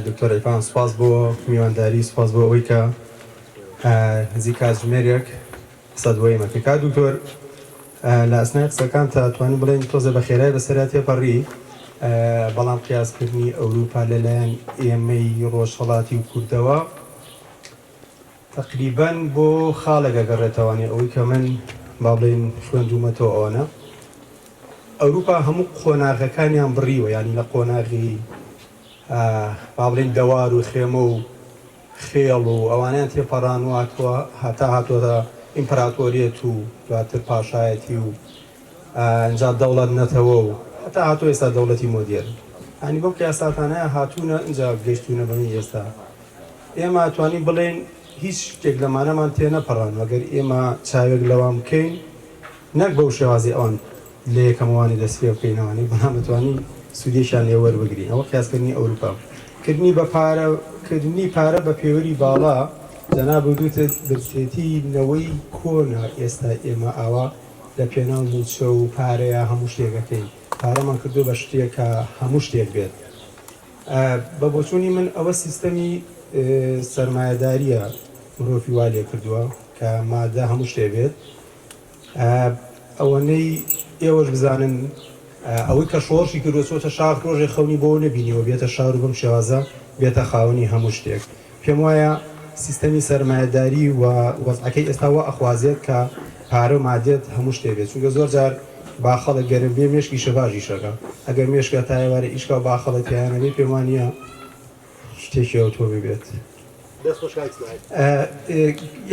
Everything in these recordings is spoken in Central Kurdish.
دکتۆر عیرفان سوپاس بۆ میوانداری سوپاس بۆ ئەوەی کە نزیک کاتژمێرێک قسەت بۆ ئێمە کرد کاک دکتۆر لە ئەسنای قسەکانتا توانین بڵێن تۆزێ بە خێرای بەسەرا تێپەڕی بەڵام قیاسکردنی ئەوروپا لەلایەن ئێمەی ڕۆژهەڵاتی و کوردەوە تەقریبەن بۆ خاڵێک ئەگەڕێتەوانێ ئەوەی کە من با بڵێین خوێندوومەتەوە ئەوەنە ئەوروپا هەموو قۆناغەکانیان بڕیوە یانی لە قۆناغی با بڵێین دەوار و خێمە و خێڵ و ئەوانیان تێپەڕانواتوە هەتا هاتووەتە ئیمپراتۆریەت و دواتر پاشایەتی و ئەجا دەوڵەت نەتەوە و هەتا هاتوو ئێستا دەوڵەتی مۆدێر هەنی بەم قیاساتانەیە هاتوونە ئەجا گەشتوونە بەمە ئێستا ئێمە ئەتوانین بڵێین هیچ شتێک لەمانەمان تێنەپەڕاند ئەگەر ئێمە چاوێک لەوان بکەین نەک بەو شێوازەی ئەوان لە یەکەمەوانی دەست پێ بکەینەوانی بەڵام ئەتوانین سودێکیان لێ وەربگرین ئەوە قیاسکردنی ئەوروپا کردنی بە پارە کردنی پارە بە پێوەری باڵا جەناب وتوتت برسێتی نەوەی کۆنە ئێستا ئێمە ئاوا لە پێناو موچە و پارەیە هەموو شتێک ئەکەین پارەمان کردوە بە شتێک کە هەموو شتێک بێت بە بۆچوونی من ئەوە سیستەمی سەرمایەدارییە مرۆڤی وا لێ کردووە کە مادە هەموو شتێ بێت. ئەوەنەی ئێوەش بزانن ئەوەی کە شۆڕشی کردووە چۆتە شاخ ڕۆژێ خەونی بۆ نەبینیوە بێتە شار و بەم شێوازە بێتە خاوەنی هەموو شتێک. پێم وایە سیستەمی سەرمایەداری و وەزعەکەی ئێستا وا ئەخوازێت کە پارە و مادیەت هەموو شتێ بێت چونکە زۆر جار با خەڵک گەرم بێ مێشکی شەڤاژیش ئەکا ئەگەر مێشکە تا ئێوارێ ئیش کا و با خەڵک تێیا نەبێ پێم وا نییە شتێکی ئەوتۆ ببێت. دەست خۆش کاک ئیسماعیل.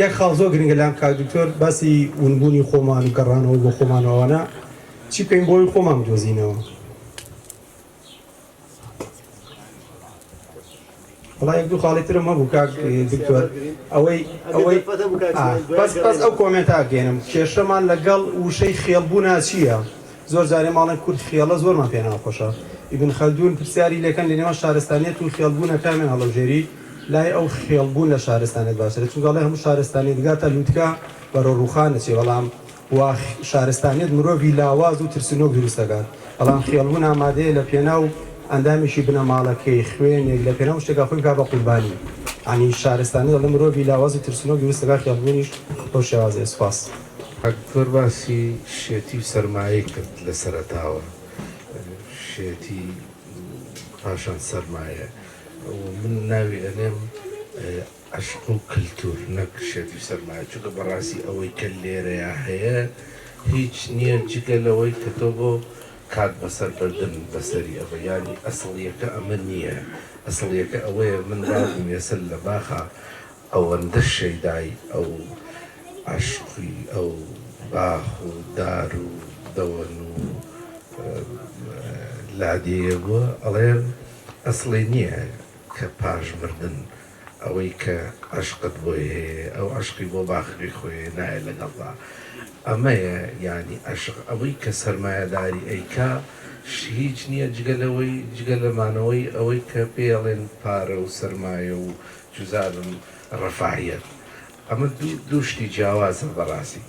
یەک خاڵ زۆر گرنگە لام کاک دکتۆر باسی ونبوونی خۆمان و گەڕانەوە بۆ خۆمان و ئەوانە چی بکەین بۆ ئەوەی خۆمان بدۆزینەوە؟ وەڵا یەک دوو خاڵی ترم هەبوو کاک دکتۆر ئەوەی ئەوەی بەس بەس ئەو کۆمێنتا گەێنم کێشەمان لەگەڵ وشەی خێڵبوونا چییە زۆر جارێ ماڵێن کورد خێڵە زۆرمان پێ ناخۆشە ئیبن خەلدون پرسیاری لەکەن لە نێوان شارستانیەت و خێڵبوونە کامیان هەڵەبژێری لای ئەو خێڵبوون لە شارستانێت باشترە چونگەڵێ هەموو شارستانێت گاتە لووتکە بەرەو ڕووخانە چێ بەڵام واخ شارستانیەت مرۆڤی لاواز و ترسنۆک دروست دەکات بەڵام خێڵبوون ئامادەیە لە پێناو ئەندامێکی بنەماڵەکەی، خوێنێک، لە پێناو شتێکا خۆی بکات بە قوربانی یانی شارستانیەت دەڵێم مرۆڤی لاواز و ترسنۆک دروست دەکات خێڵبوونیش بەو شێوازەیە. سوپاس. کاک زۆر باسی شێتی و سەرمایەی کرد لە سەرەتاوە شێتی پاشان سەرمایە و من ناوی ئەنێم عەشق و کلتور نەک شێت و سەرمایە چونکە بەڕاستی ئەوەی کە لێرەیا هەیە هیچ نیە جگە لەوەی کە تۆ بۆ کات بەسەر بردن بەسەری ئەڤە یانی ئەسڵیەکە ئەمە نیە ئەسڵیەکە ئەوەیە من بابم یەسر لە باخا ئەوەندە شەیدای ئەو عەشقی ئەو باخ و دار و دەوەن و لادێیە بوە ئەڵێ ئەسڵی نیە کە پاش مردن ئەوەی کە عەشقت بۆی هەیە ئەو عەشقی بۆ باخەکەی خۆیە نایە لەگەڵدا ئەمەیە یانی عەشق ئەوەی کە سەرمایەداری ئەیکا هیچ نیە جگە لەوەی جگە لە مانەوەی ئەوەی کە پێی ئەڵێن پارە و سەرمایە و چوزانم ڕەفاهیەت ئەمە دوو دوو شتی جیاوازە بەڕاستی.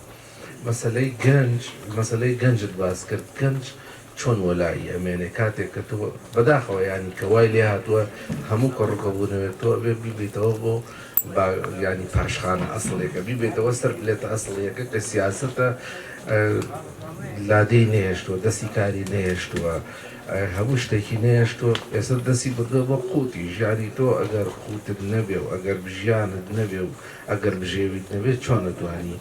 مەسەلەی گەنج مەسەلەی گەنجت باس کرد گەنج چۆن وەلائی ئەمێنێ کاتێک کە تۆ بەداخەوە یانی کە وای لێ هاتوە هەموو کە ڕووکە بوونەوێت تۆ ئەبێ بیبیتەوە بۆ با یانی پاشخانە ئەسڵیەکە بیبێتەوە سەر پلێتە ئەسڵیەکە کە سیاسەتە لادێی نەهێشتوە دەستی کاری نەهێشتوە هەموو شتێکی نەهێشتوە ئێستا دەستی بردوە بۆ قوتی ژیانی تۆ ئەگەر قوتت نەبێ و ئەگەر بژیانت نەبێ و ئەگەر بژێویت نەبێت چۆن ئەتوانی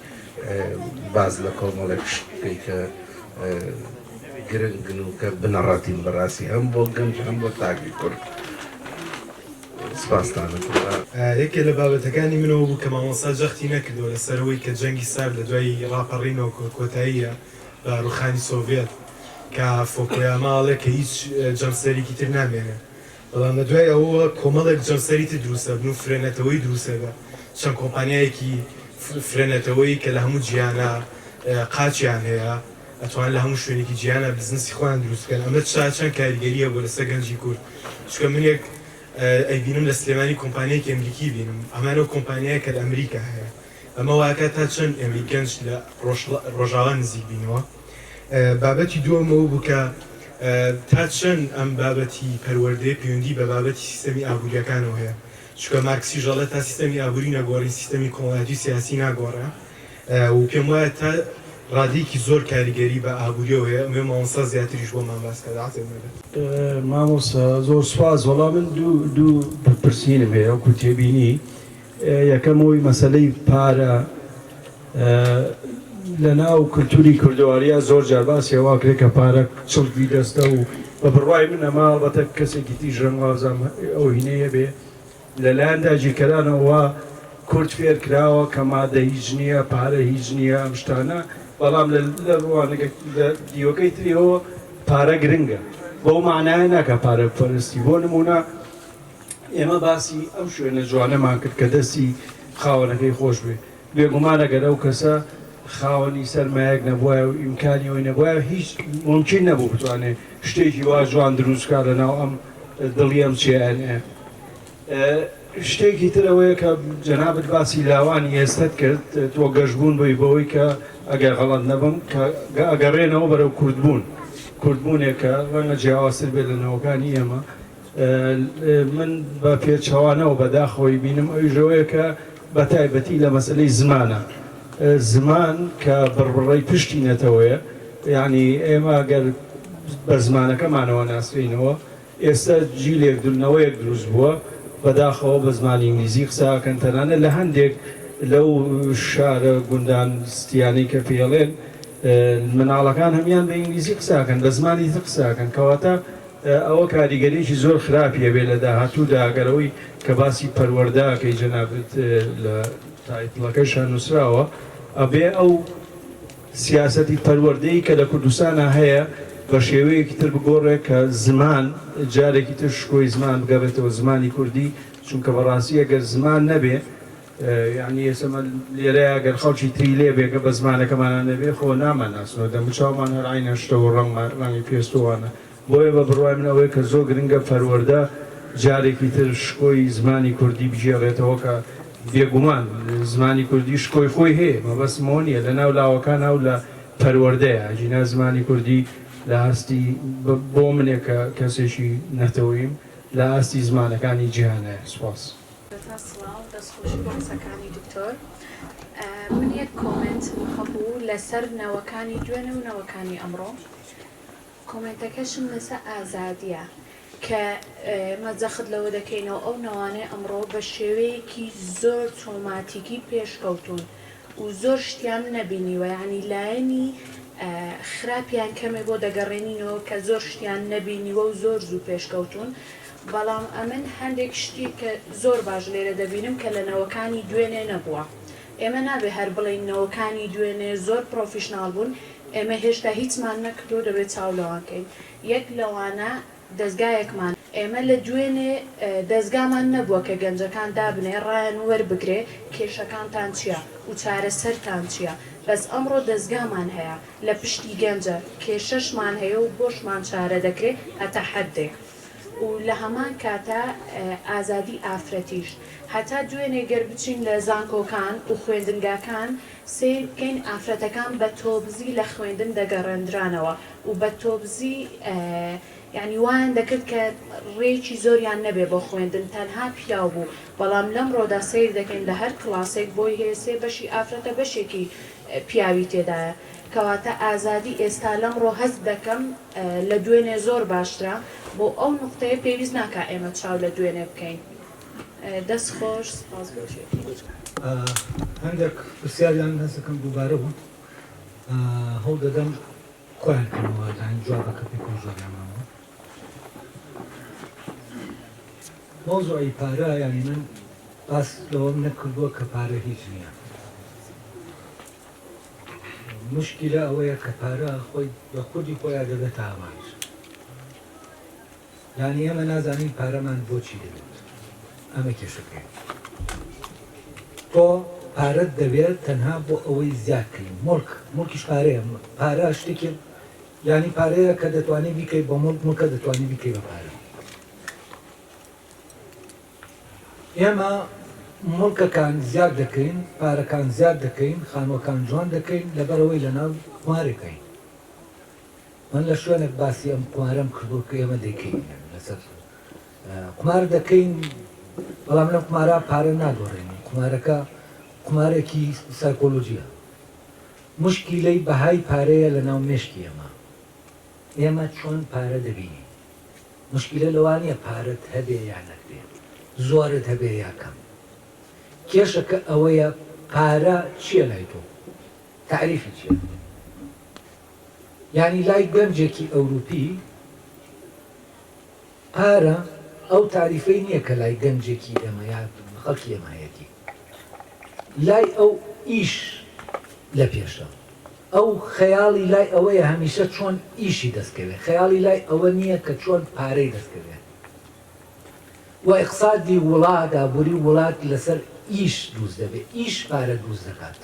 باس لە کۆمەڵێک شت بکەی کە گرنگن و کە بنەڕەتین بەڕاستی هەم بۆ گەنج هەم بۆ تاکی کورد سپاستان ئەکەم. یەکێ لە بابەتەکانی من ئەوە بوو کە مامۆستا جەختی نەکردووە لەسەر ئەوەی کە جەنگی سارد لە دوای ڕاپەڕینەوە کۆتاییە بە ڕووخانی سۆڤیەت کە فۆکۆیاما ئەڵێ کە هیچ جەمسەرێکی تر نامێنێ. بەڵام لە دوای ئەوەوە کۆمەڵێک جەمسەری تر دروست ئەبن و فرەنەتەوەی دروست ئەبێ، چەند کۆمپانیایەکی فرەنەتەوەی کە لە هەموو جیهانا قاچیان هەیە ئەتوانن لە هەموو شوێنێکی جیهانا بزنسی خۆیان دروست بکەن، ئەمە چا چەند کاریگەری هەبووە لەسەر گەنجی کورد، چونکە من یەک ئەیبینم لە سلێمانی کۆمپانیایەکی ئەمریکی بینم، هەمان ئەو کۆمپانیایە کە لە ئەمریکا هەیە. ئەمە وایکات تا چەند ئێمەی گەنج لە ڕۆژاوا نزیک بینەوە. بابەتی دووەم ئەوە بوو کە تا چەند ئەم بابەتی پەروەردەیە پەیوەندی بە بابەتی سیستەمی ئابوورییەکانەوە هەیە، چونکە مارکسیش ئەڵێ تا سیستەمی ئابووری نەگۆڕی سیستەمی کۆمەڵایەتی و سیاسی ناگۆڕێ و پێم وایە تا ڕادەیەکی زۆر کاریگەری بە ئابوورییەوە هەیە. ئەمەوێ مامۆستا زیاتریش بۆمان باس کات عەزێت نەبێت. مامۆستا زۆر سوپاس. وەڵا من دوو دوو پرسینم هەیە وەکوو تێبینی. یەکەم ئەوەی مەسەلەی پارە لەناو کلتوری کوردەواریا زۆر جار باسی ئەوە کرێ کە پارە چڵکی دەستە و بە بڕوای من ئەمە ئەڵبەتە کەسێکی تیژ ڕەنگوازام ئەو هینەیە بێ لەلایەن داگیرکەرانەوە کورد فێر کراوە کە مادە هیچ نییە پارە هیچ نییە ئەم شتانە بەڵام لە ڕوانەکە لە دیوەکەی تریەوە پارە گرنگە بەو مانایە ناکە پارە پەرستی بۆ نمونە ئێمە باسی ئەو شوێنە جوانەمان کرد کە دەستی خاوەنەکەی خۆش بێت، بێگومان ئەگەر ئەو کەسە خاوەنی سەرمایەک نەبوایە و ئیمکانی ئەوی نەبوایە هیچ مومکین نەبوو بتوانێ شتێکی وا جوان دروست بکات لە ناو ئەم دڵی ئەم چیایانەیە. شتێکی تر ئەوەیە کە جەنابت باسی لاوانی ئێستەت کرد، تۆ گەشبوون بووی بەوەی کە ئەگەر غەڵەت نەبم کە ئەگەڕێنەوە بەرەو کوردبوون، کوردبوونێک کە ڕەنگە جیاوازتر بێت لە نەوەکانی ئێمە، من بە پێچەوانەوە بە داخەوەی بینم ئەویش ئەوەیە کە بە تایبەتی لە مەسەلەی زمانە زمان کە بڕبڕەی پشتی نەتەوەیە یعنی ئێمە گەر بە زمانەکەمانەوە ناسرینەوە ئێستا جیلێک دونەوەیەک دروست بووە بەداخەوە بە زمانی ئینگلیزی قساکەن تەنانە لە هەندێک لەو شارە گوندان ستیانی کە پێڵێن مناڵەکان هەمیان بە ئینگلیزی قساکەن بە زمانی تر قساکەن کەواتە ئەوە کاریگەریەکی زۆر خراپی ئەبێت لە داهاتوودا گەر ئەوەی کە باسی پەروەردە ئەکەی جەنابت لە تایتڵەکەیشا نووسراوە ئەبێ ئەو سیاسەتی پەروەردەی کە لە کوردستانا هەیە بە شێوەیەکی تر بگۆڕێ کە زمان جارێکی تر شکۆی زمان بگەڕێتەوە زمانی کوردی چونکە بەڕاستی ئەگەر زمان نەبێ یەعنی ئێسە مە لێرە ئەگەر خەڵکی تری لێ بێ گە بە زمانەکەمانا نەبێ خۆ نامە ناسنەوە دەموو چاومان هەر عەینە شتە و ڕەنگ مە ڕەنگی پێست و وانە بۆیە بە بڕوای من ئەوەی کە زۆ گرنگە پەروەردە جارێکی تر شکۆی زمانی کوردی بگێڕێتەوە کە بێگومان زمانی کوردی شکۆی خۆی هەیە مەبەستم ئەوە نیە لە ناو لاوەکانا و لە پەروەردەیا ئەگینا زمانی کوردی لە ئاستی بە بۆ منێک کە کەسێکی نەتەوەییم لە ئاستی زمانەکانی جیهانایە سوپاس. سەرەتا سڵاو دەست خۆشی بۆ قسەکانی دکتۆر من یەک کۆمێنتم هەبوو لەسەر نەوەکانی دوێنێ و نەوەکانی ئەمڕۆ کۆمێنتەکەشم لەسەر ئازادیە کە مە جەخت لەوە دەکەینەوە ئەو نەوانەی ئەمڕۆ بە شێوەیەکی زۆر تۆماتیکی پێشکەوتون و زۆر شتیان نەبینیوە ینی لایەنی خراپیان کەمێ بۆ دەگەڕێنینەوە کە زۆر شتیان نەبینیوە و زۆر زوو پێشکەوتون بەڵام ئەمن هەندێک شتی کە زۆر باش لێرە دەبینم کە لە نەوەکانی دوێنێ نەبووە. ئێمە نابێ هەر بڵێین نەوەکانی دوێنێ زۆر پڕۆفیشناڵ بوون، ئێمە هێشتا هیچمان نەکردووە دەبێ چاو لەوان کەین. یەک لەوانە دەزگایەکمانە. ئێمە لە دوێنێ دەزگامان نەبووە کە گەنجەکان دابنێ ڕایان و وەربگرێ کێشەکانتان چییە و چارەسەرتان چییە. بەس ئەمڕۆ دەزگامان هەیە لە پشتی گەنجە، کێشەشمان هەیە و بۆشمان چارە دەکرێ هەتا حەددێک. و لە هەمان کاتا ئازادی ئافرەتیش. هەتا دوێنێ گەر بچین لە زانکۆکان و خوێندنگاکان سەیر بکەین ئافرەتەکان بە تۆبزی لە خوێندن دەگەڕێندرانەوە و بە تۆبزی یانی وایان دەکرد کە ڕێکی زۆریان نەبێ بۆ خوێندن تەنها پیاو بوو بەڵام لەمڕۆدا سەیر دەکەین لە هەر کڵاسێک بۆی هەیە سێ بەشی ئافرەتە بەشێکی پیاوی تێدایە. کەواتە ئازادی ئێستا لەمڕۆ هەست دەکەم لە دوێنێ زۆر باشترە، بۆ ئەو نوقتەیە پێویست ناکا ئێمە چاو لە دوێنێ بکەین. دەست خۆش سپاس بۆ چێژی. هەندێک پرسیاریان هەست دەکەم دووبارە بوون هەوڵ دەدەم کۆیان کەمەوە یانی جوابەکە پێ پێ زۆریان مامەوە مەوزوعی پارە یانی من باس لەوەم نەکردووە کە پارە هیچ نییە موشکیلە ئەوەیە کە پارە خۆی بە خودی خۆیا دەبێتە ئامانج. یانی ئێمە نازانین پارەمان بۆ چی دەوێت. ئەمە کێشەکەیە. تۆ پارەت دەوێت تەنها بۆ ئەوەی زیاد کەی. موڵک، موڵکیش پارەیە. پارە شتێکی یانی پارەیە کە دەتوانی بیکەی بە موڵک، موڵکە دەتوانی بیکەی بە پارە. ئێمە موڵکەکان زیاد دەکەین، پارەکان زیاد دەکەین، خانووەکان جوان دەکەین، لەبەرئەوەی لەناو قوارێکین. من لە شوێنێک باسی ئەم قوارەم کردووە کە ئێمە دەیکەین، یانی لەسەر قومار دەکەین، بەڵام لەم قومارە پارە نادۆڕێنین، قومارەکە قومارێکی سایکۆلۆژییە، موشکیلەی بەهای پارەیە لەناو مێشکی ئێمە، ئێمە چۆن پارە دەبینین؟ موشکیلە لەوە نیە پارەت هەبێ یا نەتبێ زۆرت هەبێ یا کەم کێشەکە ئەوەیە پارە چیە لای تۆ تاریفی چیە یانی لای گەنجێکی ئەوروپی پارە ئەو تاریفەی نیە کە لای گەنجێکی ئێمە یا خەڵکی ئێمە هەیەتی. لای ئەو ئیش لە پێشە. ئەو خەیاڵی لای ئەوەیە هەمیشە چۆن ئیشی دەست کەوێ، خەیاڵی لای ئەوە نییە کە چۆن پارەی دەست کەوێ و ئیقسادی وڵات، ئابووری وڵات لەسەر ئیش دروست دەبێ، ئیش پارە دروست دەکات.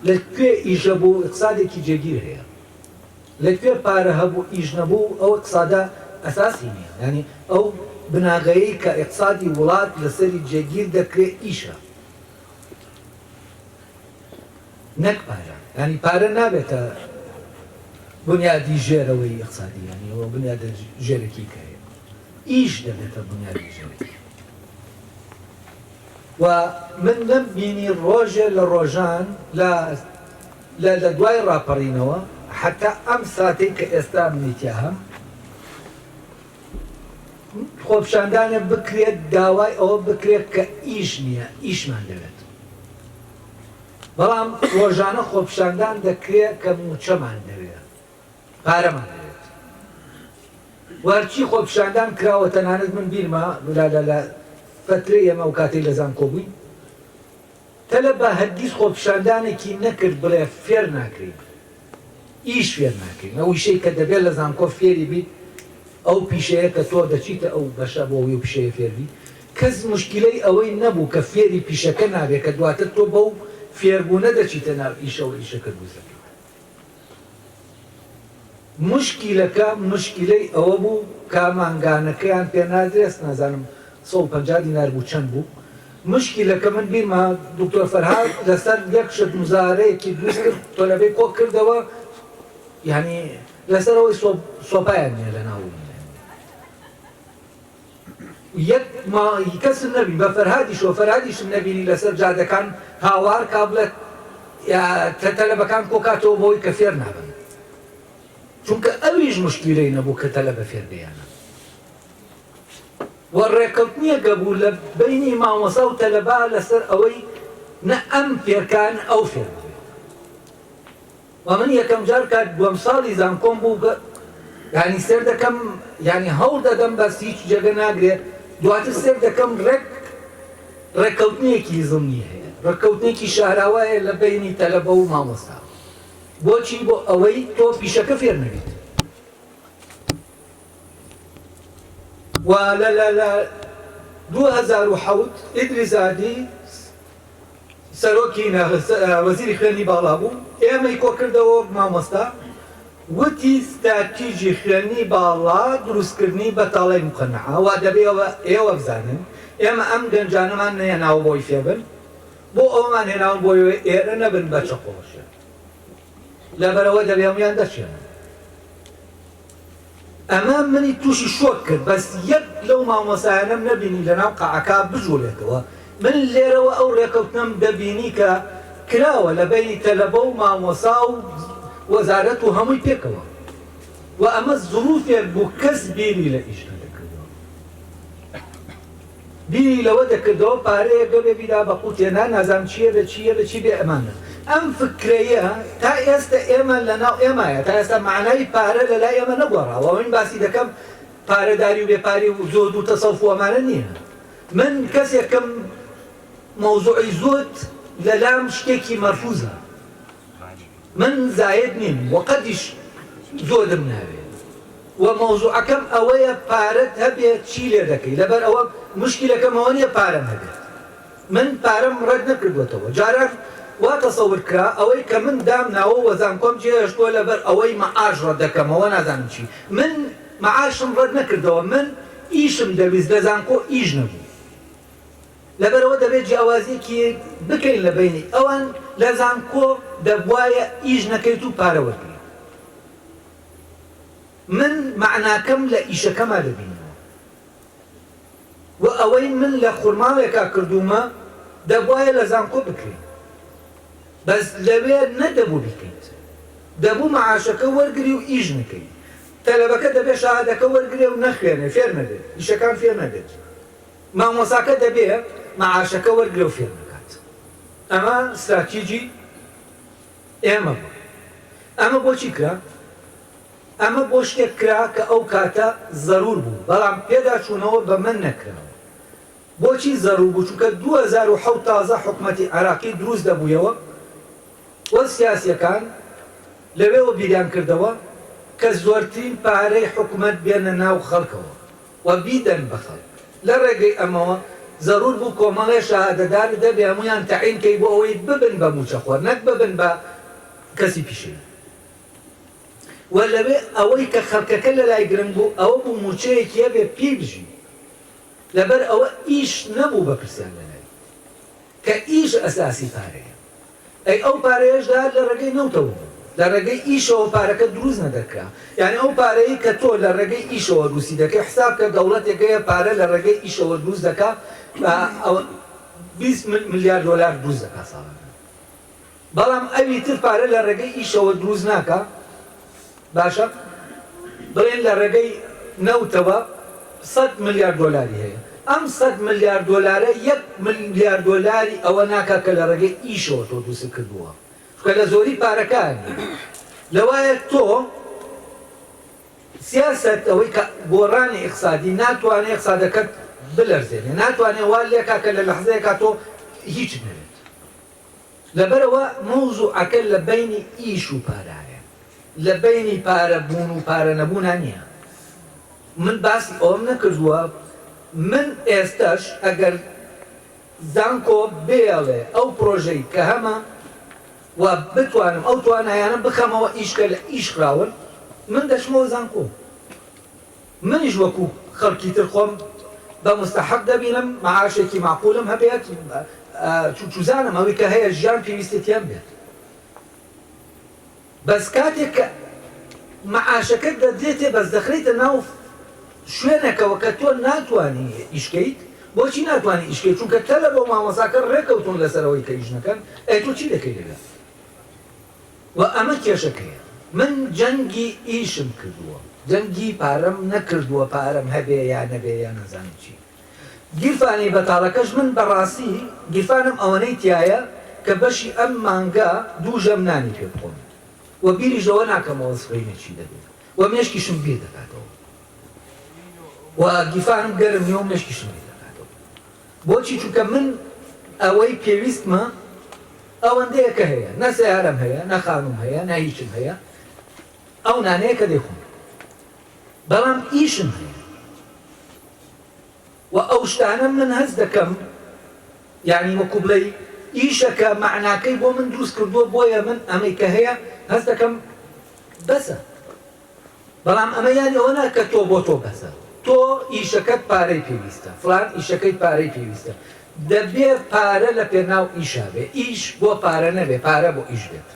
لە کوێ ئیژە بوو ئقسادێکی جێگیر هەیە لە کوێ پارە هەبوو ئیش نەبوو ئەو ئقسادە ئەساسی نیە یانی ئەو بناغەیەی کە ئقسادی وڵات لەسەری جێگیر دەکرێ ئیشە نەک پارە یانی پارە نابێتە بنیادی ژێرەوەی ئقسادی یانی ئەوە بنیادە ژێرەکی کە هەیە ئیش دەبێتە بنیادی ژێرەکی و من نەم بینی ڕۆژێ لە ڕۆژان لە لە لە دوای ڕاپەڕینەوە حەتا ئەم ساتەی کە ئێستا منی تیا هەم خۆپشاندانێ بکرێت داوای ئەوە بکرێت کە ئیش نییە ئیشمان دەوێت بەڵام ڕۆژانە خۆپشاندان دەکرێت کە موچەمان دەوێت پارەمان دەوێت و هەرچی خۆپیشاندان کراوە تەنانەت من بیرمە لە لە لە فترەی ئێمە ئەو کاتەی لە زانکۆ بووین تەلەبە هەرگیز خۆپیشاندانێکی نەکرد بڵێ فێر ناکرێین ئیش فێر ناکرێین ئەو ئیشەی کە دەبێت لە زانکۆ فێری بیت ئەو پیشەیە کە تۆ دەچیتە ئەو بەشە بۆ ئەوەی ئەو پیشەیە فێر بیت کەس موشکیلەی ئەوەی نەبوو کە فێری پیشەکە نابێت کە دواتر تۆ بەو فێربوونە دەچیتە ناو ئیشەوە ئیشەکەت بوو سەر موشکیلەکە موشکیلەی ئەوە بوو کا مانگانەکەیان پێ نادرێس نازانم سەد و پەنجا دینار بوو چەند بوو موشکیلەکە من بیرمە دکتۆر فەرهاد لەسەر یەک شت مزارەیەکی دروست کرد تۆلەبەی کۆ کردەوە یانی لەسەرەوەی سۆپایان نیە لەناو یەک ماڵی کەسم نەبینی بە فەرهادیشەوە فەرهادیشم نەبینی لەسەر جادەکان هاوار کا بڵێ تەلەبەکان کۆکاتەوە بەوەی کە فێر نابن چونکە ئەویش مشتیلەی نەبوو کە تەلەبە فێر بیانە و ڕێکەوتنیە گەبوو لە بینی مامۆسا و تەلەبا لەسەر ئەوەی نە ئەم فێرکان ئەو فێر وە من یەکەم جار کە دوەم ساڵی زانکۆم بوو یانی سێر دەکەم یانی هەوڵ دەدەم بەس هیچ جێگە ناگرێ دواتر سێر دەکەم ڕێک ڕێککەوتنێکی زمنی هەیە ڕێککەوتنێکی شاراوایە لە بینی تەلەبە و مامۆستا بۆچی بۆ ئەوەی تۆ پیشەکە فێر نەبیت و لە لە لە 2007 ئیدریزادی سەرۆکی وەزیری خوێندنی باڵا بوو ئێمەی کۆکردەوە وەک مامۆستا وتی ستراتیجی خوێندنی باڵا دروستکردنی بەتاڵەی موقەنەعە وا دەبێ ئێوە بزانن ئێمە ئەم گەنجانەمان نەهێناوە بۆی فێبن بۆ ئەوەمان هێناون بۆی ئێرە نەبن بەچەقۆ بەشێن لەبەرئەوە دەبێ هەموویان دەرچێنن. ئەمە منی توشی شۆک کرد بەس یەک لەو مامۆستایانەم نەبینی لەناو قەعەکە بجوڵێتەوە من لێرەوە ئەو ڕێکەوتنەم دەبینی کە کراوە لەبەینی تەلەبە و مامۆسا و وەزارەت و هەمووی پێکەوە وە ئەمە زڕوفێک بوو کەس بیری لە ئیشکە نەکردوە. بیری لەوە دەکردەوە پارەیەک بەبێ بیدا بە قوتێ نا نازانم چیە بێ چیە بێ چی بێ ئەمانە ئەم فکرەیە تا ئێستە ئێمە لەناو ئێمایە تا ئێستا مەعنای پارە لەلای ئێمە نەگۆڕاوە ئەوەی من باسی دەکەم پارە داری و بێ پاری و زۆد و تەسەوف و ئەمانە نیە من کەسێکم مەوزوعی زۆد لەلام شتێکی مەرفوزە. من زاید نیم و قەتیش زۆرم ناوێ و مەوزوعەکەم ئەوەیە پارەت هەبێ چی لێ دەکەی لەبەر ئەوە موشکیلەکەم ئەوە نیە پارەم هەبێت من پارەم ڕەت نەکردوەتەوە جاران وا تەسەور کرا ئەوەی کە من دام ناوە و زانکۆم جێ هێشتوە لەبەر ئەوەی مەعاش ڕەت دەکەمەوە نازانم چی من مەعاشم ڕەت نەکردەوە من ئیشم دەویست لە زانکۆ ئیش نەبوو لەبەرئەوە دەبێت جیاوازیەکیەک بکەین لە بەینی ئەوان لە زانکۆ دەبوایە ئیش نەکەیت و پارە وەرگریت من مەعناکەم لە ئیشەکەما دەبینەوە وە ئەوەی من لە خورماڵێکا کردومە دەبوایە لە زانکۆ بکرێت بەس لەوێ نەدەبوو بیکەیت دەبوو مەعاشەکە وەرگری و ئیش نەکەی تەلەبەکە دەبێت شەهادەکە وەرگرێ و نەخوێنێ فێر نەبێت ئیشەکان فێر نەبێت مامۆساکە دەبێ مەعاشەکە وەرگرە و فێر نەکات. ئەمە ستراتیجی ئێمە بوو. ئەمە بۆ چی کرا؟ ئەمە بۆ شتێک کرا کە ئەو کاتە زەروور بوو، بەڵام پێداچوونەوە بە مە نەکراوە. بۆچی زەروور بوو؟ چونکە دوو هەزار و حەوت تازە حکومەتی عێراقی دروست دەبوویەوە و سیاسییەکان لەوێوە بیریان کردەوە کە زۆرترین پارەی حکومەت بێنە ناو خەڵکەوە. و بیدەن بە خەڵک. لە ڕێگەی ئەمەوە زەروور بوو کۆمەڵێ شەهادەدار و دەبێ هەموویان تەعین کەی بۆ ئەوەی ببن بە مووچەخۆر نەک ببن بە کەسی پیشەیی. و لەوێ ئەوەی کە خەڵکەکە لە لای گرنگ بوو ئەوە بوو مووچەیەکی هەبێ پێی بژی. لەبەر ئەوە ئیش نەبوو بەپرسیان لە لای. کە ئیش ئەساسی پارەیە ئەی ئەو پارەیەش دە لە ڕێگەی نەوتەوە بوو لە ڕێگەی ئیشەوە پارەکە دروست نەدەکرا یانی ئەو پارەی کە تۆ لە ڕێگەی ئیشەوە دروستی دەکەی حساب کە دەوڵەتێکەیە پارە لە ڕێگەی ئیشەوە دروست دەکا بیست ملیار دۆلار دروست دەکا ساڵانە. بەڵام ئەوی تر پارە لە ڕێگەی ئیشەوە دروست ناکا باشە بڵێن لە ڕێگەی نەوتەوە سەد ملیار دۆلاری هەیە ئەم سەد ملیار دۆلارە یەک ملیار دۆلاری ئەوە ناکا کە لە ڕێگەی ئیشەوە تۆ دروستت کردووە چونکە لە زۆری پارەکانی لەوایە تۆ سیاسەت ئەوەی کە گۆڕانی ئیقسادی ناتوانێت ئیقسادەکەت بلەرزێنێ ناتوانێت وا لێکا کە لە لەحزەیەکا تۆ هیچت نەبێت لەبەرئەوە مەوزوعەکە لە بەینی ئیش و پارایە، لە بەینی پارە بوون و پارە نەبوونا نیە. من باسی ئەوەم نەکردووە من ئێستەش ئەگەر زانکۆ بێڵێ ئەو پرۆژەی کە هەمە و بتوانم ئەو توانایانە بخەمەوە ئیش کە لە ئیش خراون من دەچمەوە زانکۆ. منیش وەکو خەڵکی تر خۆم بە موستەحەق دەبینم معاشێکی مەعقولم هەبێت چوزانم ئەوی کە هەیە ژیان پێویستی تێم بێت بەس کاتێک کە معاشەکەت دەدرێتێ بەس دەخرێتە ناو شوێنەکەوە کە تۆ ناتوانی ئیشکەیت بۆچی ناتوانانی ئیشکەیت چونکە تەلەبە و مامۆساکە ڕێکەوتون لەسەرەوەی کە ئیش نەکەن ئەی تۆ چی دەکەی لەوێ وە ئەمە کێشەکەیە من جەنگی ئیشم کردووە جەنگی پارەم نەکردووە پارەم هەبێ یا نەبێ یا نازانم چی گیرفانی بەتاڵەکەش من بەڕاستی گیرفانم ئەوەنەی تیایە کە بەشی ئەم مانگە دوو ژەم نانی پێ بخۆم وە بیریش لەوە ناکەمەوە سبەینێ چی دەبێ وە مێشکیشم بیر دەکاتەوە وە گیرفانم گەرم نیە و مێشکیشم بیر دەکاتەوە. بۆچی چونکە من ئەوەی پێویستمە ئەوەندەیە کە هەیە نە سەیارەم هەیە نە خانووم هەیە نە هیچم هەیە ئەو نانەیە کە دەیخۆم بەڵام ئیشم هەیە و ئەو شتانە من هەست دەکەم یعنی وەکو بڵێی ئیشەکە معناکەی بۆ من دروست کردووە بۆیە من ئەمەی کە هەیە هەست دەکەم بەسە بەڵام ئەمە یانی ئەوە نا کە تۆ بۆ تۆ بەسە. تۆ ئیشەکەت پارەی پێویستە، فڵان ئیشەکەی پارەی پێویستە. دەبێ پارە لە پێناو ئیشا بێ، ئیش بۆ پارە نەبێ، پارە بۆ ئیش بێت.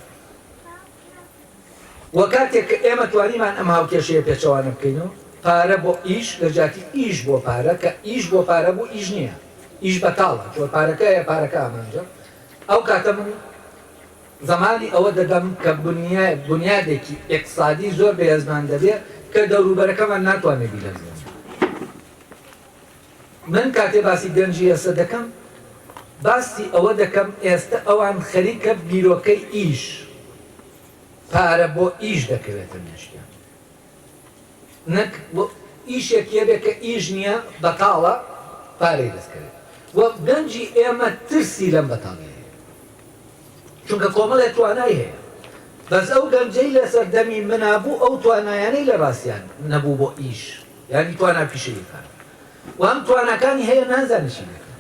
وە کاتێک کە ئێمە توانیمان ئەم هاوکێشەیە پێچەوانە بکەینەوە، پارە بۆ ئیش لە جیاتی ئیش بۆ پارە، کە ئیش بۆ پارە بوو ئیش نییە، ئیش بەتاڵە، چۆن پارەکە هەیە پارەکە ئامانجە، ئەو کاتە من. زمانی ئەوە دەدەم کە بونیادێکی ئیقتسادی زۆر بەهێزمان دەبێ کە دەوروبەرەکەمان ناتوانێ بیلەرزێنێ. من کاتێ باسی گەنجی ئێستە دەکەم باسی ئەوە دەکەم ئێستە ئەوان خەریکە بیرۆکەی ئیش، پارە بۆ ئیش دەکەوێتە مێشکیان. نەک وە ئیشێک یەبێ کە ئیش نیە بەتاڵە پارەی دەست کەوێ وە گەنجی ئێمە ترسی لەم بەتاڵیە هەیە چونکە کۆمەڵێ توانای هەیە بەس ئەو گەنجەی لەسەر دەمی منا بوو ئەو توانایانەی لە ڕاستیان نەبوو بۆ ئیش یانی توانا پیشەیەکان وام تواناکانی هەیە نازانێ چی دەکا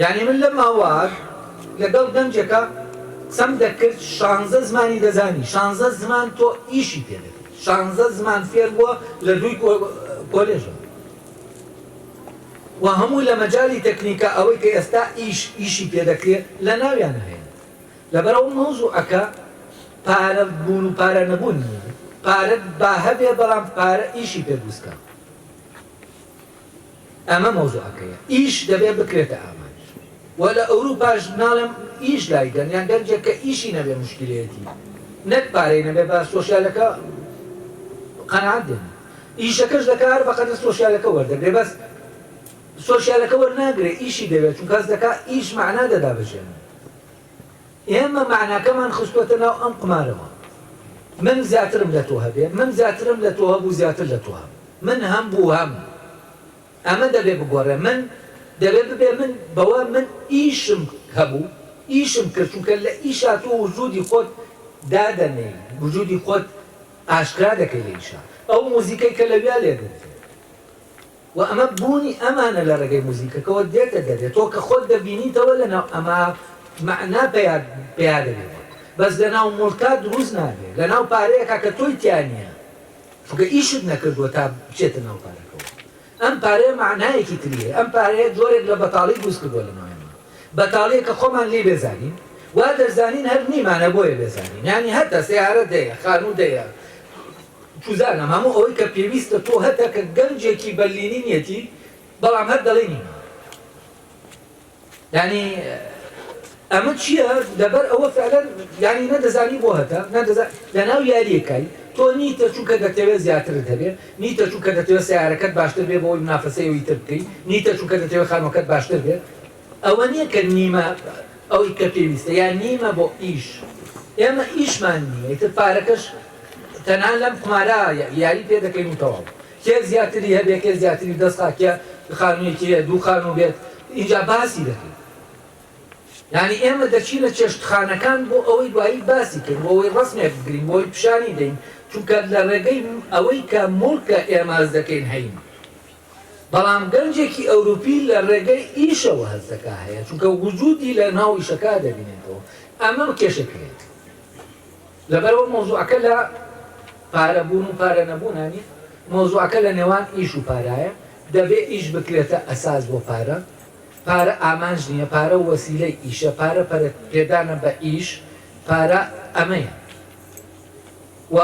یانی من لە ماوەک لەگەڵ گەنجێکا قسەم دەکرد شانزە زمانی دەزانی شانزە زمان تۆ ئیشی پێ دەکەی شانزە زمان فێر بووە لە دووی کۆلێژەوە و هەموو لە مەجالی تەکنیکە ئەوەی کە ئێستا ئیش ئیشی پێ دەکرێت لە ناویان هەیە لەبەرەوە مەوزوعەکە پارە بوون و پارە نەبوون نییە پارەت با هەبێ بەڵام پارە ئیشی پێ دروستکە ئەمە مەوزوعەکەیە. ئیش دەبێ بکرێتە ئامانج. وە لە ئەوروپاش ناڵێم ئیش لایدەن یان گەنجێک کە ئیشی نەبێ موشکیلەیەتی. نەک پارەی نەبێ بە سۆشیالەکە قەناعەت دێنێ. ئیشەکەش دەکا هەر بەقەدەر سۆشیالەکە وەردەگرێ بەس سۆشیالەکە وەرناگرێ ئیشی دەوێ چونکە هەست دەکا ئیش مەعنا دەدا بە ژیانی. ئێمە مەعناکەمان خستووەتە ناو ئەم قومارەوە. من زیاترم لە تۆ هەبێ، من زیاترم لە تۆ هەبوو زیاتر لە تۆ هەم. من هەم بوو هەم. ئەمە دەبێ بگۆڕێ. من دەبێ ببێ من بەوە من ئیشم هەبوو، ئیشم کرد، چونکە لە ئیشا تۆ وجودی خۆت دادەنێی، وجودی خۆت ئاشکرا دەکەی لە ئیشا. ئەو موزیکەی کە لەویا لێدوزی. وە ئەمە بوونی ئەمانە لە ڕێگەی موزیکەکەوە دێتە دەرێ تۆ کە خۆت دەبینیتەوە لەناو ئەما مەعنا پەیا پەیا دەبێ بۆت بەس لەناو موڵکا دروست نابێ لەناو پارەیەکا کە تۆی تیا نیە چونکە ئیشت نەکردووە تا بچێتە ناو پارەکەوە ئەم پارەیە مەعنایەکی تری هەیە ئەم پارەیە جۆرێک لە بەتاڵی دروست کردووە لەناو ئێمە بەتاڵیە کە خۆمان لێی بێزارین وا دەزانین هەر نیمانە بۆیە بێزارین یانی هەتە سەیارەت هەیە خانووت هەیە بوزانم هەموو ئەوەی کە پێویستە تۆ هەتە کە گەنجێکی بەرلینینیەتی بەڵام هەر دەڵێی نیم یانی ئەمە چییە لەبەر ئەوە فعلەن یانی نەدەزانی بۆ هەتە نەدەزان لەناو یاریەکەی تۆ نیتە چونکە دەتەوێت زیاترت هەبێ نیتە چونکە دەتەوێت سیارەکەت باشتر بێ بۆی منافەسەیەوەی تر بکەی نیتە چونکە دەتەوێت خانوەکەت باشتر بێت ئەوە نیە کە نیمە ئەوەی کە پێویستە یان نیمە بۆ ئیش ئێمە ئیشمان نیە ئیتر پارەکەش تەنها لەم قومارە یاری پێ دەکەین و تەواو کێ زیاتری هەبێ کێ زیاتری دەست خا کێ خانوویەکی هەیە دوو خانوو بێت ئینجا باسی دەکەین یانی ئێمە دەچینە چێشتخانەکان بۆ ئەوەی دوایی باسی کەین بۆ ئەوەی ڕسمێک بگرین بۆی پیشانی دەین چونکە لە ڕێگەی ئەوەی کە موڵکە ئێمە هەز دەکەین هەین بەڵام گەنجێکی ئەوروپی لە ڕێگەی ئیشەوە هەستەکە هەیە چونکە وجودی لە ناو ئیشەکە دەبینێتەوە ئەمە کێشەی پێیە لەبەرئەوە مەوزوعەکە لە پارە بوون و پارە نەبوونا نیە مەوزوعەکە لە نێوان ئیش و پارایە دەبێ ئیش بکرێتە ئەساس بۆ پارە پارە ئامانج نیە پارە وەسیلەی ئیشە پارە پەرە پێدانە بە ئیش پارە ئەمەیە. و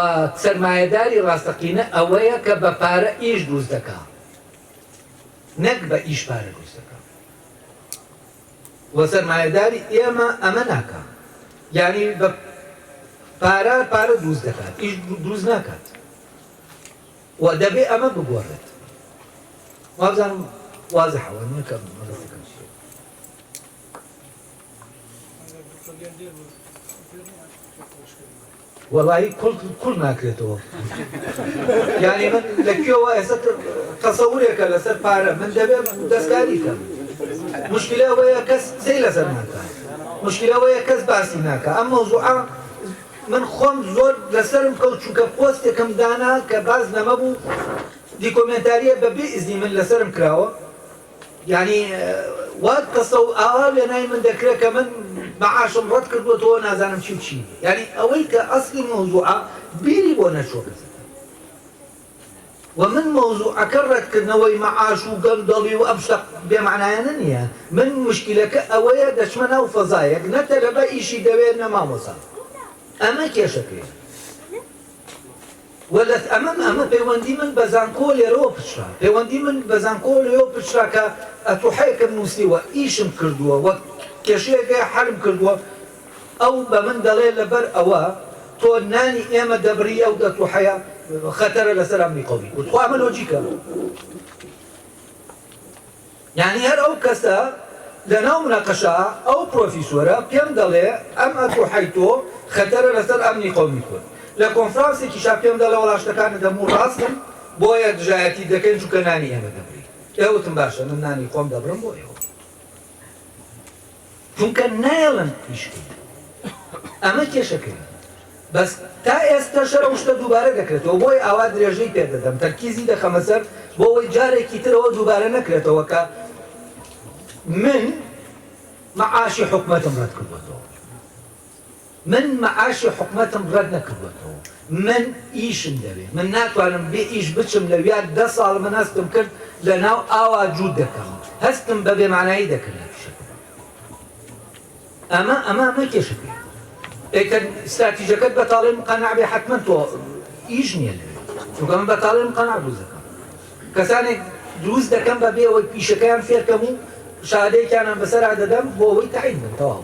سەرمایەداری ڕاستەقینە ئەوەیە کە بە پارە ئیش دروست دەکا نەک بە ئیش پارە دروست دەکا و سەرمایەداری ئێمە ئەمە ناکا یانی بە پارە پارە دروست دەکات ئیش دروست ناکات و دەبێ ئەمە بگۆڕێت وابزانم واضح هو انه كم مدرسه كم شيء Thank you. وەڵایی کوڵ کوڵ ناکرێتەوە یانی من لە کوێوە ئێستا تەسەورێکە لەسەر پارە من دەبێت دەستکاری کەم مشکلە ئەوەیە کەس قسەی لەسەر ناکە مشکلە ئەوەیە کەس باسی ناکە ئەم مەوزوعە من خۆم زۆر لەسەرم کەوت چونکە پۆستێکم دانا کە باس لەمە بوو دیکۆمێنتاریە بە بێ ئیزنی من لەسەرم کراوە یانی وات قسەو ئاوا وێنای من دەکرێ کە من معاشم ڕەت کردۆتەوە نازانم چی و چی نیە یانی ئەوەی کە ئەسڵی مەوزوعە بیری بۆ نەچوە بزن وە من مەوزوعەکە ڕەت کردنەوەی معاش و گەندەڵی و ئەم شتە بێ مەعنایانە نیە من مشکیلەکە ئەوەیە دەچمە ناو فەزایەک نە تەلەبە ئیشی دەوێ نە مامۆسا ئەمە کێشەکەیە. وەللەت ئەمەم ئەمە پەیوەندی من بە زانکۆ لێرەوە پچڕا پەیوەندی من بە زانکۆ لێوە پچڕا کە ئەتوحێکم نوسیوە ئیشم کردووە وە کێشەیەکە حەلم کردووە ئەو بە من دەڵێ لەبەر ئەوە تۆ نانی ئێمە دەبڕی ئەو ئەتوحەیە خەتەرە لەسەر ئەمنی قەومی کورد خۆ ئەمە لۆجیکە. یانی هەر ئەو کەسە لەناو مناقەشە ئەو پرۆفیسۆرە پێم دەڵێ ئەم ئەتو حەی تۆ خەتەرە لەسەر ئەمنی قەومی کورد لە کۆنفرانسێکیشا پێم دەڵێ وەڵا شتەکانت هەموو ڕاستن بۆیە دژایەتیت دەکەین چونکە نانی ئێمە دەبڕی ئێ وتم باشە من نانی خۆم دەبڕم بۆ ئێوە. چونکە نایەڵن پشکی ئەمە کێشەکەیە بەس تا ئێستەشە ئەو شتە دووبارە دەکرێتەوە بۆی ئاوا درێژەی پێدەدەم تەرکیزی دەخەمە سەر بۆ ئەوەی جارێکی ترەوە دووبارە نەکرێتەوە کە من معاشی حکومەتم ڕەت کردۆتەوە. من معاشی حکومەتم ڕەت نەکردۆتەوە من ئیشم دەوێ من ناتوانم بێ ئیش بچم لەویا دە ساڵ من هەستم کرد لە ناو ئاوا جووت دەکەم هەستم بە بێ مانایی دەکرد لە فشەکە ئەمە ئەمە ئەمە کێشە پێ ئێکە ستراتیژەکەت بەتاڵێ مقەنع بێ حتمما تۆ ئیش نییە لەوێ چونکە من بەتاڵێ مقەنع دروست دەکەم کەسانێک دروست دەکەم بە بێ ئەوەی پیشەکەیان فێرکەم و شادەیەکیانان بەسەرا دەدەم بۆ ئەوەی تەعین بن تەواو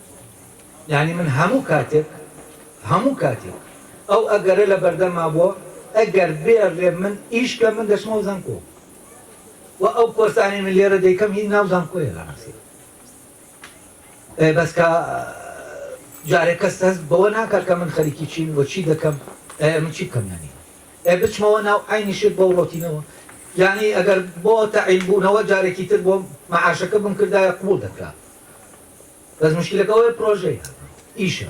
یانی من هەموو کاتێک هەموو کاتێک ئەو ئەگەرە لە بەردەما بووە ئەگەر بێڵێ من ئیش کە من دەچمەوە زانکۆ و ئەو کۆرسانەی من لێرە دەیکەم هی ناو زانکۆیە لە ڕاستی بەس کە جارێک کەس هەست بەوە ناکات کە من خەریکی چین وە چی دەکەم من چی بکەم یانی ئێ بچمەوە ناو عینی شت بەو ڕۆتینەوە یعنی ئەگەر بۆ تەعیل بوونەوە جارێکی تر بۆم مەعاشەکە بم کردایە قوبول دەکرا بەس موشکیلەکە ئەوەیە پرۆژەیە ئیشە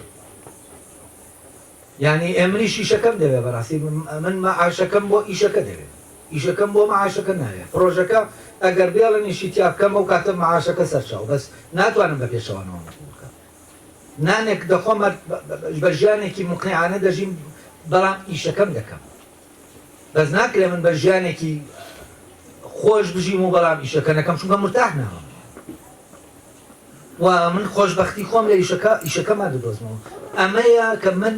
یانی ئێ منیش ئیشەکەم دەوێ بەڕاستی من مەعاشەکەم بۆ ئیشەکە دەوێ ئیشەکەم بۆ مەعاشەکە ناوێ پرۆژەکە ئەگەر بێڵنیشی تیا بکەم ئەو کاتە مەعاشەکە سەرچاو بەس ناتوانم بە پێچەوانەوە بکەم نانێک دەخۆمە بە ژیانێکی مقنعانە دەژیم بەڵام ئیشەکەم دەکەم بەس ناکرێ من بە ژیانێکی خۆش بژیم و بەڵام ئیشەکە نەکەم چونکە مرتاح نابم و من خۆشببختی خۆم لە ئیشەکە ئیشەکەما دەدۆزمەوە ئەمەیە کە من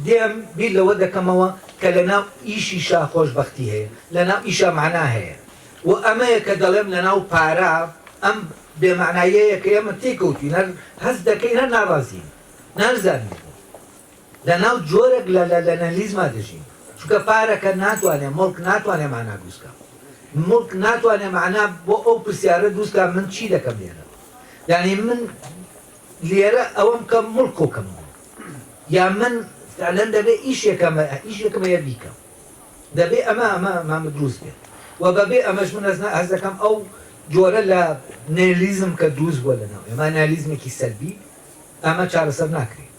دێم بیر لەوە دەکەمەوە کە لە ناو ئیشیشا خۆشببختی هەیە لە ناو ئیشە معنا هەیە و ئەمەیە کە دەڵێم لە ناو پارە ئەم بێمەعنایەیە کە ئێمە تێکەوتین هەر هەست دەکەین هەر ناڕازین نازانین لە ناو جۆرێک لە لە لەنەلیزما دەژین چونکە پارەکە ناتوانێ مڵک ناتوانێ مانا دووسکا مڵک ناتوانێ مانا بۆ ئەو پرسیارە دووسکا من چی دەکەم لێرە یعنی من لێرە ئەوەم کە مڵک کۆکەم یا من فعلەن دەبێ ئیشێکەمە ئیشێکمە یە بیکەم دەبێ ئەمە ئەمە مام دروست بێت و بەبێ ئەمەش من ئەزنا هەز دەکەم ئەو جۆرە لە نێلیزم کە دروست بووە لە ناو ئێمە نالیزمێکی سەلبی ئەمە چارەسەر ناکرێت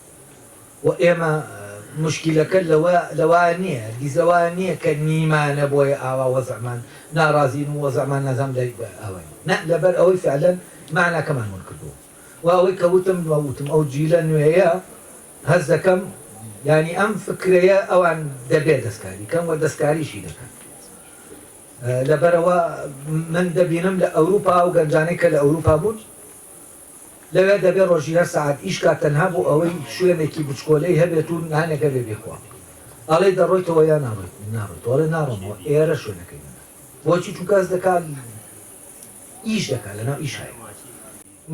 و ئێمە موشکیلەکە لەوە لەوە نییە هەرگیز لەوە نییە کە نیمانە بۆیە ئاوا وەزعمان نارازین و وەزعمان نازانم لە ئەوە نییە نا لەبەر ئەوەی فعلەن مەعناکەمان ون کردووە و ئەوەی کە وتم و وتم ئەو جیلە نوێیە هەست دەکەم یانی ئەم فکرەیە ئەوان دەبێ دەستکاری کەن و دەستکاریشی دەکەن لەبەرەوە من دەبینم لە ئەوروپا ئەو گەنجانەی کە لە ئەوروپا بوون لەوێ دەبێت ڕۆژی هەر سەعات ئیش کات تەنها بۆ ئەوەی شوێنێکی بچکۆلەی هەبێت و نانێک هەبێت بیخوات. ئەڵێی دەڕۆیتەوە یان ناڕۆیت؟ ناڕۆیتەوە؟ ئەڵێ ناڕۆمەوە ئێرە شوێنەکەی منە. بۆچی؟ چونکە هەست دەکات ئیش دەکات لەناو ئیشا یە.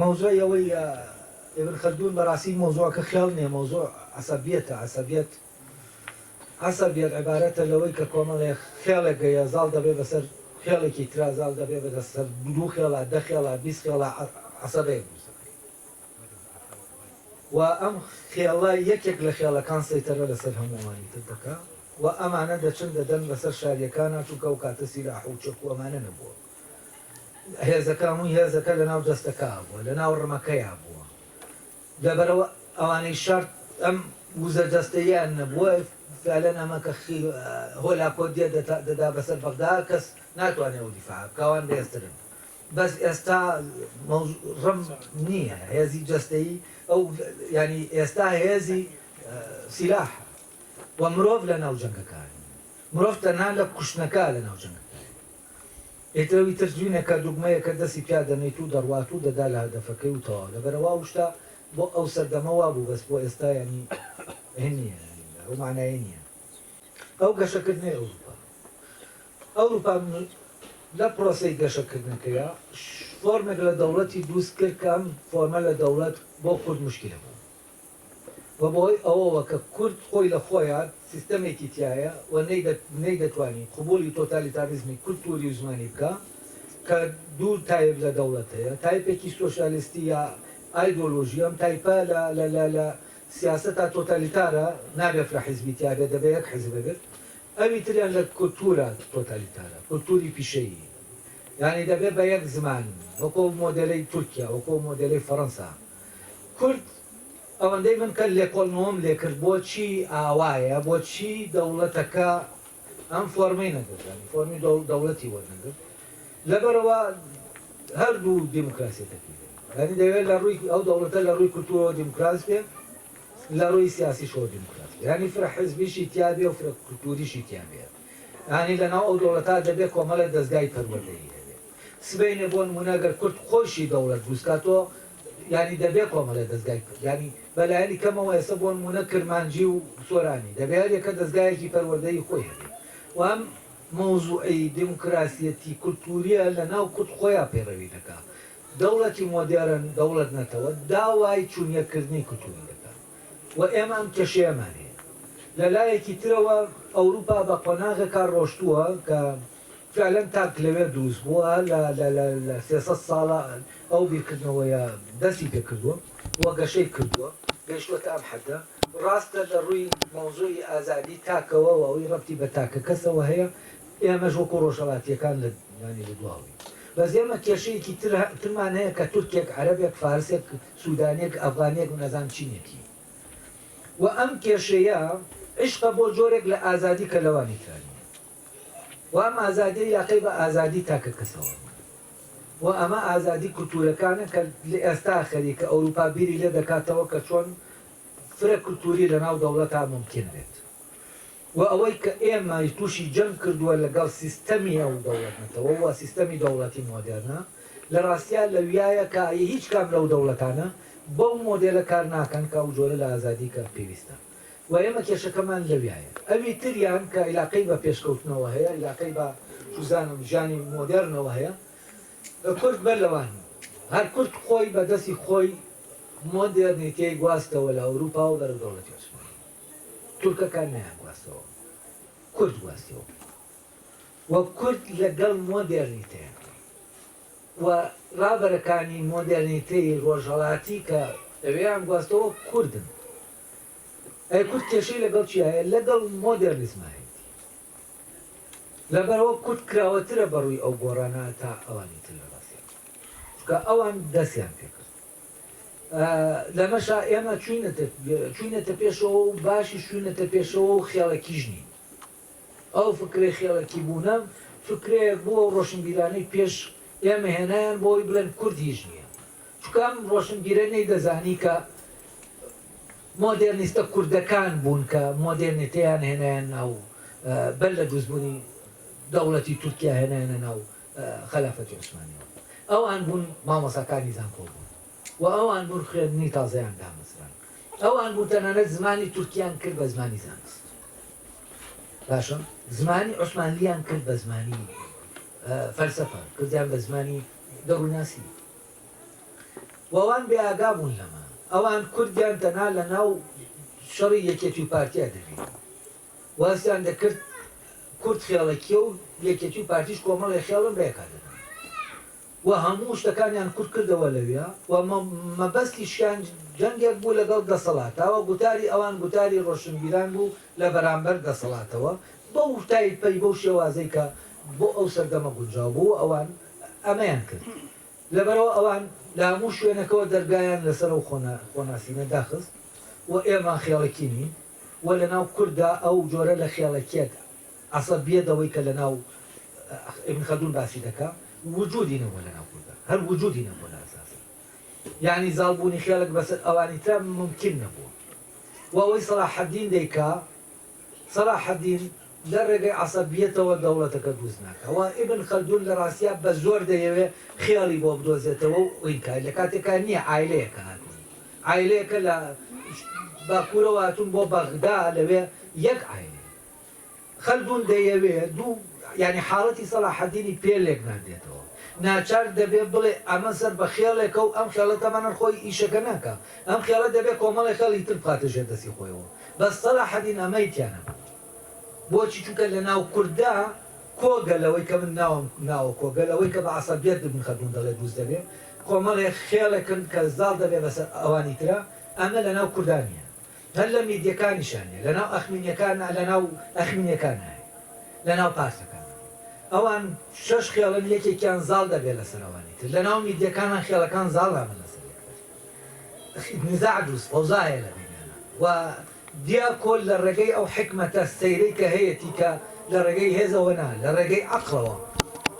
مەوزوعی ئەوەی ئیبن خەلدون بەڕاستی مەوزوعەکە خێڵ نیە مەوزوع عەسەبیەتە عەسەبیەت. عەسەر بێت عیبارەتە لەوەی کە کۆمەڵێک خێڵێک گەیە زاڵ دەبێ بەسەر خێڵێکی ترا زاڵ دەبێ بە سەر دوو خێڵا دە خێڵا بیست خێڵا عەسەبەیەک دروست دەکا و ئەم خێڵە یەکێک لە خێڵەکان سەیتەرە لەسەر هەموو ئەوانی تر دەکا و ئەمانە دەچن دەدەن بەسەر شاریەکانا چونکە ئەو کاتە سیلاح و چەک و ئەمانە نەبووە هێزەکە هەمووی هێزەکە لەناو دەستەکە بووە لەناو ڕمەکەیا بووە لەبەرئەوە ئەوانەی شەڕ ئەم وزە جەستەییەیان نەبووە، فعلەن ئەمە کە خیل و هۆلاکۆدیە دەدا بەسەر بەغدا کەس ناتوانێ ئەو دیفاعە بکا ئەوان بەهێزترن بەس ئێستا مەوزوع ڕم نییە هێزی جەستەیی ئەو یانی ئێستا هێزی سیلاحە و مرۆڤ لەناو جەنگەکان مرۆڤ تەنها لە کوشتنەکە لەناو جەنگەکان. ئێتر ئیتر جوینەکە دوگمەیەکە دەستی تیا دەنێیت و دەڕوات و دەدا لە هەدەفەکەی و تەواو لەبەرئەوە ئەو شتە بۆ ئەو سەردەمە وابوو بەس بۆ ئێستا یانی هه نیە یانی ئەو مانایەی نیە ئەو گەشەکردنەی ئەوروپا ئەوروپا لە پرۆسەی گەشەکردنەکەیا فۆرمێک لە دەوڵەتی دوست کرد کە ئەم فۆرمە لە دەوڵەت بۆ کورد مشکیلە بوو بەبۆی ئەوەوە کە کورد خۆی لە خۆیا سیستەمێکی تیایە و نەیدەتوانی قبوڵی تۆتالیتاریزمی کولتووری و زمانی بکا کە دوو تایپ لە دەوڵەت هەیە، تایپێکی سۆشیالیستی یا ئایدۆلۆژی، ئەم تایپە لە سیاسەتا تۆتالیتارە نابێ فرە حیزبی تیابێت دەبێ یەک حیزب بێت، ئەوی تریان لە کولتوورە تۆتالیتارە، کولتووری پیشەیی، یانی دەبێ بە یەک زمان وەکۆ مۆدێلەی تورکیا، وەکۆ مۆدێلەی فەرەنسا، کورد ئەوەندەی من کە لێکۆڵنەوەم لێ کرد بۆچی ئاوایە بۆچی دەوڵەتەکە ئەم فۆرمەی نەگرت یانی فۆرمی دەوڵەتی وەرنەگرت لەبەرەوە هەردوو دیموکراسی تەکیل یانی دەوێت لە ڕووی ئەو دەوڵەتە لە ڕووی کولتوورەوە دیموکراس بێ لە ڕووی سیاسیشەوە دیموکراس بێ یانی فرە حزبیشی تیا بێ و فرە کولتووریشی تیا بێ یانی لەناو ئەو دەوڵەتە دەبێ کۆمەڵێ دەزگای پەروەردەیی سبەینێ بۆ نموونە گەر کورد خۆیشی دەوڵەت دروست کا تۆ یانی دەبێ کۆمەلە دەزگای کورد یانی بە لایەنی کەمەوە ئێستا بۆ نموونە کرمانجی و سۆرانی دەبێ هەر یەکە دەزگایەکی پەروەردەی خۆی هەبێ و ئەم مەوزوعی دیموکراسیەتی کولتووریە لە ناو کورد خۆیا پەیڕەوی دەکا دەوڵەتی مۆدێرن دەوڵەت نەتەوە داوای چوونیەک کردنی کولتووری دەکا و ئێمە ئەم کێشەیەمان هەیە لە لایەکی ترەوە ئەوروپا بە قۆناغێکا ڕۆشتووە کە فیعلەن تاک لەوێ دروست بووە لە لە لە لە سێ سەد ساڵە ئەو بیرکردنەوەیە دەستی پێ کردووە و گەشەی کردووە گەیشتووەتە ئەم حەدە. ڕاستە لە ڕووی مەوزوعی ئازادی تاکەوە و ئەوەی ڕەبتی بە تاکەکەسەوە هەیە ئێمەش وەکوو ڕۆژهەڵاتییەکان لە یانی لە دواوەین بەس ئێمە کێشەیەکی تر ترمان هەیە کە تورکێک عەرەبێک فارسێک سوودانییەک ئەفغانییەک نازانم چینێکی و ئەم کێشەیە عیشقە بۆ جۆرێک لە ئازادی کە لەوانی ترا نییە. و ئەم ئازادیە یاخی بە ئازادی تاکە کەسەوە بوو و ئەمە ئازادی کولتورەکانە کە لەئێستا خەریکە ئەوروپا بیری لێ دەکاتەوە کە چۆن فرە کولتوری لە ناو دەوڵەتا مومکین بێت و ئەوەی کە ئێمە توشی جەنگ کردوە لە گەڵ سیستەمی ئەو دەوڵەت نەتەوە و سیستەمی دەوڵەتی مۆدێرنە لە ڕاستیا لەویایە کە هیچ کام لەو دەوڵەتانە بەو مۆدێلە کار ناکەن کە ئەو جۆرە لە ئازادی کە پێویستە. و ئێمە کێشەکەمان لەویایە ئەوی تریان کە ئیلاقەی بە پێشکەوتنەوە هەیە ئیلاقەی بە چوزانم ژیانی مۆدێرنەوە هەیە کورد بەر لەوان هەر کورد خۆی بە دەستی خۆی مۆدێرنیتێی گواستەوە لە ئەوروپا و بەرەو دەوڵەتی عوسمانی تورکەکان نەیان گواستەوە کورد گواستەوە و کورد لە گەڵ مۆدێرنیتێ و ڕابەرەکانی مۆدێرنیتەی ڕۆژهەڵاتی کە ئەوێیان گواستەوە کوردن. ئەی کورد کێشەی لەگەڵ چیا هەیە؟ لەگەڵ مۆدێرنیزما هەیەتی. لەبەرئەوە کورد کراوەترە بە ڕووی ئەو گۆڕانە تا ئەوانی تر لە ڕاستیا. چونکە ئەوان دەستیان پێ کرد. لەمەشا ئێمە چووینەتە چووینەتە پێشەوە و باشیش چووینەتە پێشەوە و خێڵەکیش نین. ئەو فکرەی خێڵەکی بوونە فکرەیەک بوو ئەو ڕۆشنبیرانەی پێش ئێمە هێنایان بۆ ئەوەی بڵێن کورد هیچ نییە چونکە ئەم ڕۆشنبیرە نەیدەزانی کە مۆدێرنیستە کوردەکان بوون کە مۆدێرنیتەیان هێنایان ناو بەر لە دروستبوونی دەوڵەتی تورکیا هێنایانە ناو خەلافەتی عوسمانیەوە ئەوان بوون مامۆستاکانی زانکۆ بوون و ئەوان بوون خوێندنی تازەیان دامەزراند ئەوان بوو تەنانەت زمانی تورکیان کرد بە زمانی زانست باشە زمانی عوسمانلیان کرد بە زمانی فەلسەفە کردیان بە زمانی دەڕووناسی وەوان بێ ئاگا بوون لەمە ئەوان کوردیان تەنا لە ناو شەڕی یەکێتی و پارتیا دەبین وازیان دەکرد کورد خێڵەکیە و یەکێتی و پارتیش کۆمەڵی خێڵم بەیەکا دەبن و هەموو شتەکانیان کورت کردەوە لەویا و مەبەستیشیان جەنگێک بوو لەگەڵ دەسەڵاتاوە، گوتاری ئەوان گوتاری ڕۆشنبیران بوو لە بەرامبەر دەسەڵاتەوە بەو تایپەی بەو شێوازەی کە بۆ ئەو سەردەمە گونجاو بوو و ئەوان ئەمەیان کرد لەبەرئەوە ئەوان لە هەموو شوێنەکەوە دەرگایان لەسەر ئەو خۆناسینە داخست و ئێمە خێڵەکی نین و لەناو کورددا ئەو جۆرە لە خێڵەکیەت ئەسڵەن بێ دەوەی کە لەناو ئیبن خەلدون باسی دەکا وجودی نەبووە لەناو کوردا هەر وجودی نەبووە لە ئەساسی یەعنی زاڵ بوونی خێڵێک بەسەر ئەوانی ترا مومکین نەبووە و ئەوەی سەلاحەدین دەیکا سەلاحەدین لە ڕێگەی عەسەبیەتەوە دەوڵەتەکە دروست ناکا و ئیبن خەلدون لە ڕاستیا بە زۆر دەیەوێ خێڵی بۆ بدۆزێتەوە و ئینکای لە کاتێکا نییە عایلەیەکە هاتوون عایلەیەکە لە باکوورەوە هاتوون بۆ بەغدا لەوێ یەک عایلەیە خەلدون دەیەوێ دوو یانی حاڵەتی سەلاحەدینی پێ لێک نادێتەوە ناچار دەبێ بڵێ ئەمە سەر بە خێڵێکە و ئەم خێڵە تەمەنەر خۆی ئیشەکە ناکا ئەم خێڵە دەبێ کۆمەڵێ خێڵی تر بخاتە ژێر دەستی خۆیەوە بەس سەلاحەدین ئەمەی تیا نەبوو بۆچی چونکە لە ناو کورددا کۆگە لەوەی کە من ناوم ناوە کۆگە لەوەی کە بە عەسەبیەت ابن خەلدون دەڵێ دروست دەبێ کۆمەڵێ خێڵێکن کە زاڵ دەبێ بەسەر ئەوانی ترا ئەمە لە ناو کوردا نیە. هەر لە میدیەکانیشا نیە لەناو ئەخمینیەکانا لەناو ئەخمینیەکانا هەیە لەناو پارتەکانا هەیە ئەوان شەش خێڵن یەکێکیان زاڵ دەبێت لەسەر ئەوانی تر لەناو میدیەکانا خێڵەکان زاڵ نابن لەسەر یەکتر نیزاع دروست فەوزا هەیە لە بەینانا و دیاکۆ لە ڕێگەی ئەو حیکمەتە سەیرەی کە هەیەتی کە لە ڕێگەی هێزەوە نا لە ڕێگەی عەقڵەوە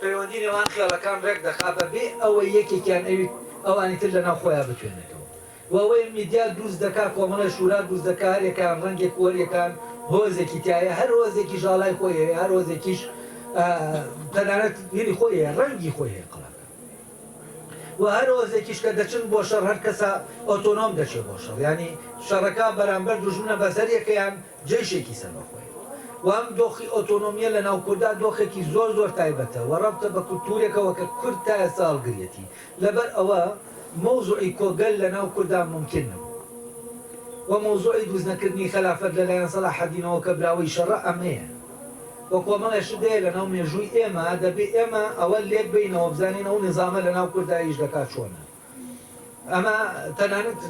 پەیوەندی نێوان خێڵەکان ڕێک دەخا بەبێ ئەوەی یەکێکیان ئەوی ئەوانی تر لەناو خۆیا بتوێنێتەوە وەوەی میدیا دروست دەکا کۆمەڵەی شورا دروست دەکا هەر یەکەیان ڕەنگێک وەر یەکان هۆزێکی تیایە هەر هۆزێکیش ئاڵای خۆی هەیە هەر هۆزێکیش تەنانەت یری خۆی هەیە ڕەنگی خۆی هەیە قەڵاکان وە هەر هۆزێکیش کە دەچن بۆ شەڕ هەر کەسە ئۆتۆنۆم دەچێ بۆ شەڕ یانی شەڕەکە بەرامبەر دوژمنە بەس هەر یەکەیان جەیشێکی سەر بە خۆیە و ئەم دۆخی ئۆتۆنۆمیە لە ناو کوردا دۆخێکی زۆر زۆر تایبەتە وە ڕەبتە بە کولتورێکەوە کە کورد تا ئێستا هەڵگریەتی لەبەر ئەوە مەوزوعی کۆگەل لە ناو کوردا مومکین نەبوو و مەوزوعی دروست نەکردنی خەلافەت لە لایەن سەلاحەدینەوە کە براوەی شەڕە ئەمەیە و کۆمەڵێ شت دەیە لە ناو مێژووی ئێمە دەبێ ئێمە ئەوە لێک بەینەوە بزانین ئەو نیزامە لە ناو کوردا ئیش دەکا چۆنە ئەمە تەنانەت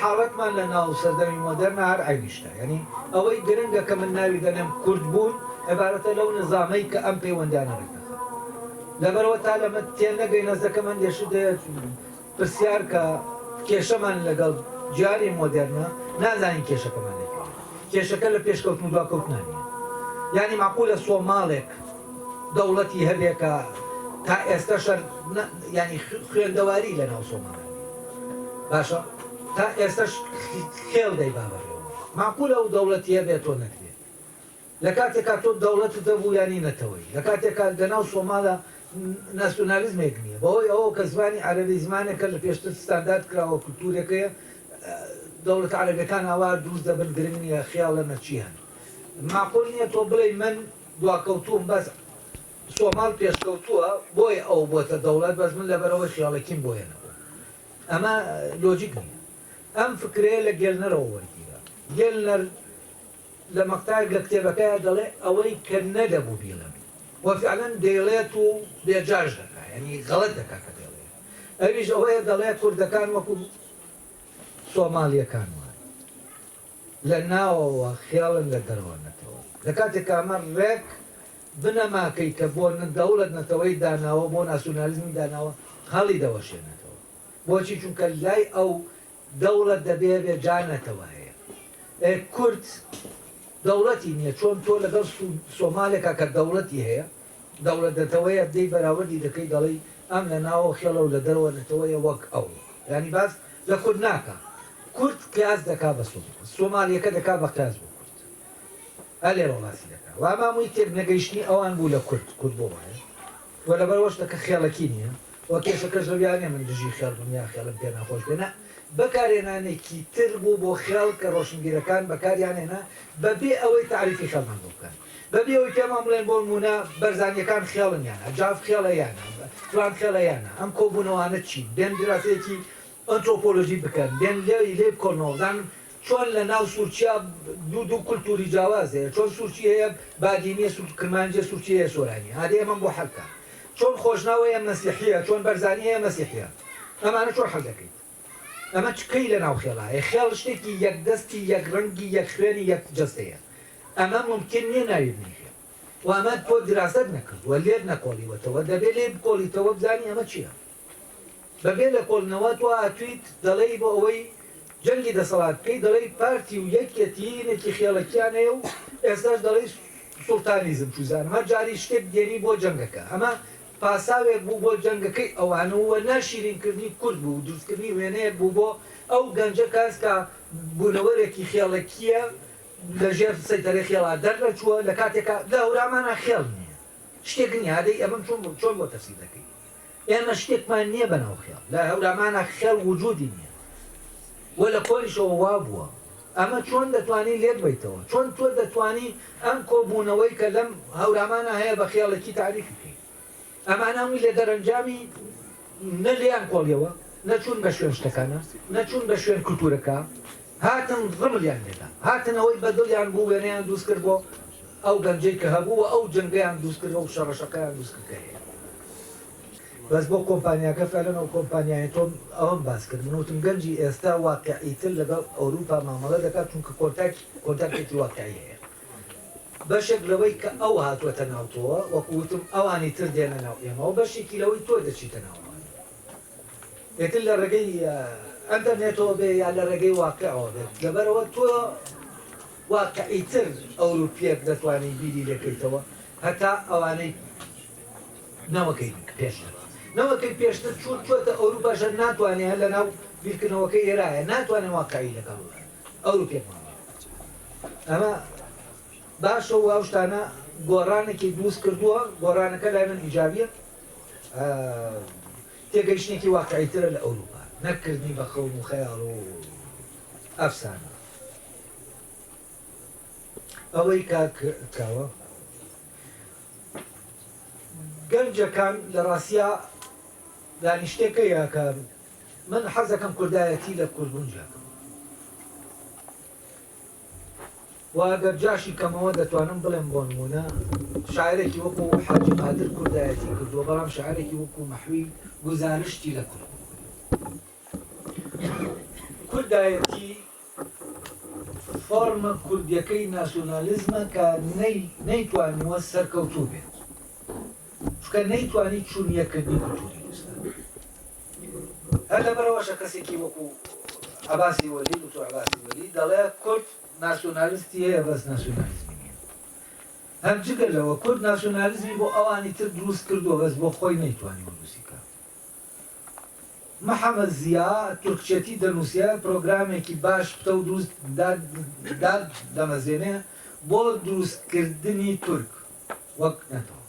حاڵەتمان لە ناو سەردەمی مۆدێرنە هەر عەینی شتە یانی ئەوەی گرنگە کە من ناوی دەنێم کورد بوون عبارەتە لەو نیزامەی کە ئەم پەیوەندانە دەکا. لەبەرئەوە تا لەمە تێنەگەین هەستدەکەم هەندێ شت پرسیار کە کێشەمان لەگەڵ جاری مۆدێرنە نازانین کێشەکەمان لە کوێیە کێشەکە لە پێشکەوتن و دواکەوتنان نیە یانی مەعقولە سۆماڵێک دەوڵەتی هەبێ کە تا ئێستا شەر یانی خوێندەواری لە ناو سۆماڵ باشە تا ئێستاش خێڵ دەیبابەڕێ مەعقولە و دەوڵەتی هەبێت تۆ نەکرێت لە کاتێکا تۆ دەوڵەتت هەبوو یانی نەتەوەیی، لە کاتێکا لە ناو سۆمالا ناسیۆنالیزمێک نییە، بەهۆی ئەوەوە کە زمانی عەرەبی زمانێکە لە پێشتر ستاندارد کراوە و کولتوورێکەیە، دەوڵەتە عەرەبییەکان ئاوا دروست دەبن، گرنگ نییە خیاڵە نە چی هەن. مەعقول نییە تۆ بڵێی من دواکەوتووم بەس سۆمال پێشکەوتووە بۆیە ئەو بۆتە دەوڵەت بەس من لەبەرئەوەی خیاڵەکیم بۆیە نەبووم. ئەمە لۆجیک نییە. ئەم فکرەیە لە گێلنەرەوە وەرگیرا. گێلنەر لە مەقتەعێک لە کتێبەکەیا دەڵێ، ئەوەی کە نەدەبوو بیڵێم و فیعلەن دەیڵێت و بێ جاش دەکا، یانی غەڵەت دەکا کە دەیڵێ، ئەویش ئەوەیە دەڵێ کوردەکان وەکو سۆمالییەکان وان، لە ناوەوە خێڵن لە دەرەوە نەتەوەن، لە کاتێکا ئەمە ڕێک بنەماکەی کە بۆ دەوڵەت نەتەوەی داناوە، بۆ ناسیونالیزمی داناوە، هەڵیدەوەشێنێتەوە. بۆچی؟ چونکە لای ئەو دەوڵەت دەبێ بێ جا نەتەوە هەیە ئێ کورد دەوڵەتی نیە چۆن تۆ لەگەڵ سۆمالێکا کە دەوڵەتی هەیە دەوڵەت نەتەوەیە دێی بەراوردی دەکەی دەڵێی ئەم لە ناوەوە خێڵە و لە دەرەوە نەتەوەیە وەک ئەو یانی باس لە کورد ناکا کورد قیاس دەکا بە سۆمالیەکە دەکا بە قیاس بۆ کورد هەر لێرەوە باسی دەکا و ئەمە هەمووی تێک نەگەیشتنی ئەوان بوو لە کورد، کورد بۆ وایە و لەبەر ئەوەش دەکە خێڵەکی نیە و کێشەکەش لەویا نیە من دژی خێڵ بم یا خێڵم پێ ناخۆش بێ نا بەکارهێنانێکی تر بوو بۆ خێڵ کە ڕۆشنبیرەکان بەکاریان هێنا بە بێ ئەوەی تەعریفی خێڵمان بۆ بکەن بە بێ ئەوەی پێمان بڵێن بۆ نموونە بەرزانیەکان خێڵن یان نا جاف خێڵە یان نا فلان خێڵە یان نا ئەم کۆبوونەوانە چین بێن دراسەیەکی ئەنترۆپۆلۆژی بکەن بێن لێی لێی بکۆنەوە بزانن چۆن لە ناو سورچیا دوو دوو کولتوری جاواز هەیە چۆن سورچی هەیە بادینیە سورچ کرمانجیە سورچی هەیە سۆرانیە ئادی ئەمەم بۆ حەل بکە چۆن خۆشناو هەیە مەسیحیە چۆن بەرزانی هەیە مەسیحیە ئەمانە چۆن حەل دەکەیت ئەمە چ کەی لە ناو خێڵا هەیە خێڵ شتێکی یەک دەستی یەک ڕەنگی یەک خوێنی یەک جەستەیە ئەمە مومکین نیە ناوی بنێی خێڵ وە ئەمە تۆ دراست نەکردوە لێت نەکۆڵیوەتەوە دەبێ لێی بکۆڵیتەوە بزانی ئەمە چیە بەبێ لێکۆڵینەوە تۆ هاتویت دەڵێی بۆ ئەوەی جەنگی دەسەڵات بکەی دەڵێی پارتی و یەکیەتی نێکی خێڵەکیان هەیە و ئێستاش دەڵێی سوڵتانیزم چوزانم هەر جاری شتێک دێنی بۆ جەنگەکە ئەمە پاساوێک بوو بۆ جەنگەکەی ئەوان و ناشیرین کردنی کورد بوو دروست کردنی وێنەیەک بوو بۆ ئەو گەنجە کەس کە بونەوەرێکی خێڵەکیە لە ژێر سەیتەرەی خێڵا دەر نەچوە لە کاتێکا لە هەورامانا خێڵ نیە شتێک نیە ئادەی ئەمەم چۆن چۆن بۆ تەفسیر دەکەی ئێمە شتێکمان نیە بەناو خێڵ لە هەورامانا خێڵ وجودی نیە وە لە کۆنیشەوە وابووە ئەمە چۆن دەتوانی لێک بەیتەوە چۆن تۆ دەتوانی ئەم کۆبوونەوەی کە لەم هەورامانا هەیە بە خێڵێکی تاریفی کەی ئەمان هەمووی لە دەرەنجامی نە لێیان کۆڵیەوە نە چوون بە شوێن شتەکانا نە چوون بە شوێن کلتورەکە هاتن ڕملیان لێدا هاتنەوەی بە دڵیان بوو وێنەیان دووست کرد بۆ ئەو گەنجەی کە هەبوو وە ئەو جەنگەیان دووست کرد ئەو شەڕەشەقەیان دووست کرد کە هەیە بەس بۆ کۆمپانیاکە فعلەن ئەو کۆمپانیایە تۆم ئەوەم باس کرد من وتم گەنجی ئێستا واقعی تر لەگەڵ ئەوروپا مامەڵە دەکات چونکە کۆنتاک کۆنتاکتێکی واقعی هەیە بەشێک لەوەی کە ئەو هاتوەتە ناو تۆوە وەکو وتم ئەوانی تر دێنە ناو ئێمەوە بەشێکی لەوەی تۆ دەچیتە ناو ئەوانی ئێتر لە ڕێگەی ئەنتەرنێتەوە بێ یا لە ڕێگەی واقعەوە بێت لەبەرەوە تۆ واقعی تر ئەوروپیەک دەتوانی بیری لێکەیتەوە هەتا ئەوانەی نەوەکەی پێشتر نەوەکەی پێشتر چوون چۆتە ئەوروپا ژن ناتوانێ هەر لەناو بیرکردنەوەکەی ئێرایە ناتوانێ واقعی لەگەڵ ئەوروپیەک ببینێ ئەمە باشە و ئەو شتانە گۆڕانێکی دروست کردووە گۆڕانەکە لای من ئیجابیە تێگەیشتێکی واقعی ترە لە ئەوروپا نەکردنی بە خەون و خەیاڵ و ئەفسانە ئەوەی کاک کاوە گەنجە کان لە راسیا دا نیشتێ کە یە کە من حەزە کەم کوردایە تی لە کورد بون جیا کەم وە گەر جاشی کەمەوە دە توانم بڵێم بۆ نمونە شاعرێکی وەکو حاجی قادر کوردایە تی کردوە بەڵام شاعرێکی وەکو مەحوی گوزارشتی لە کورد کوردایە تی فۆرمە کوردیەکەی ناسیۆنالیزمە کە نەیتوانیوە سەرکەوتوو بێت، چونکە نەیتوانی چون یەککردنی کولتووری کوردستان بێت. هەر لەبەرئەوەشە کەسێکی وەکوو عەباسی وەلی، دوکتور عەباسی وەلی دەڵێ کورد ناسیۆنالیستی هەیە بەس ناسیۆنالیزمی نییە. هەر جگە لەوە کورد ناسیۆنالیزمی بۆ ئەوانی تر دروست کردووە بەس بۆ خۆی نەیتوانیوە دروستی بکات. محەمەد زیا تورکچێتی دەنووسێ، پرۆگرامێکی باش پتەو دروست دادەمەزێنێ بۆ دروستکردنی تورک وەک نەتەوە.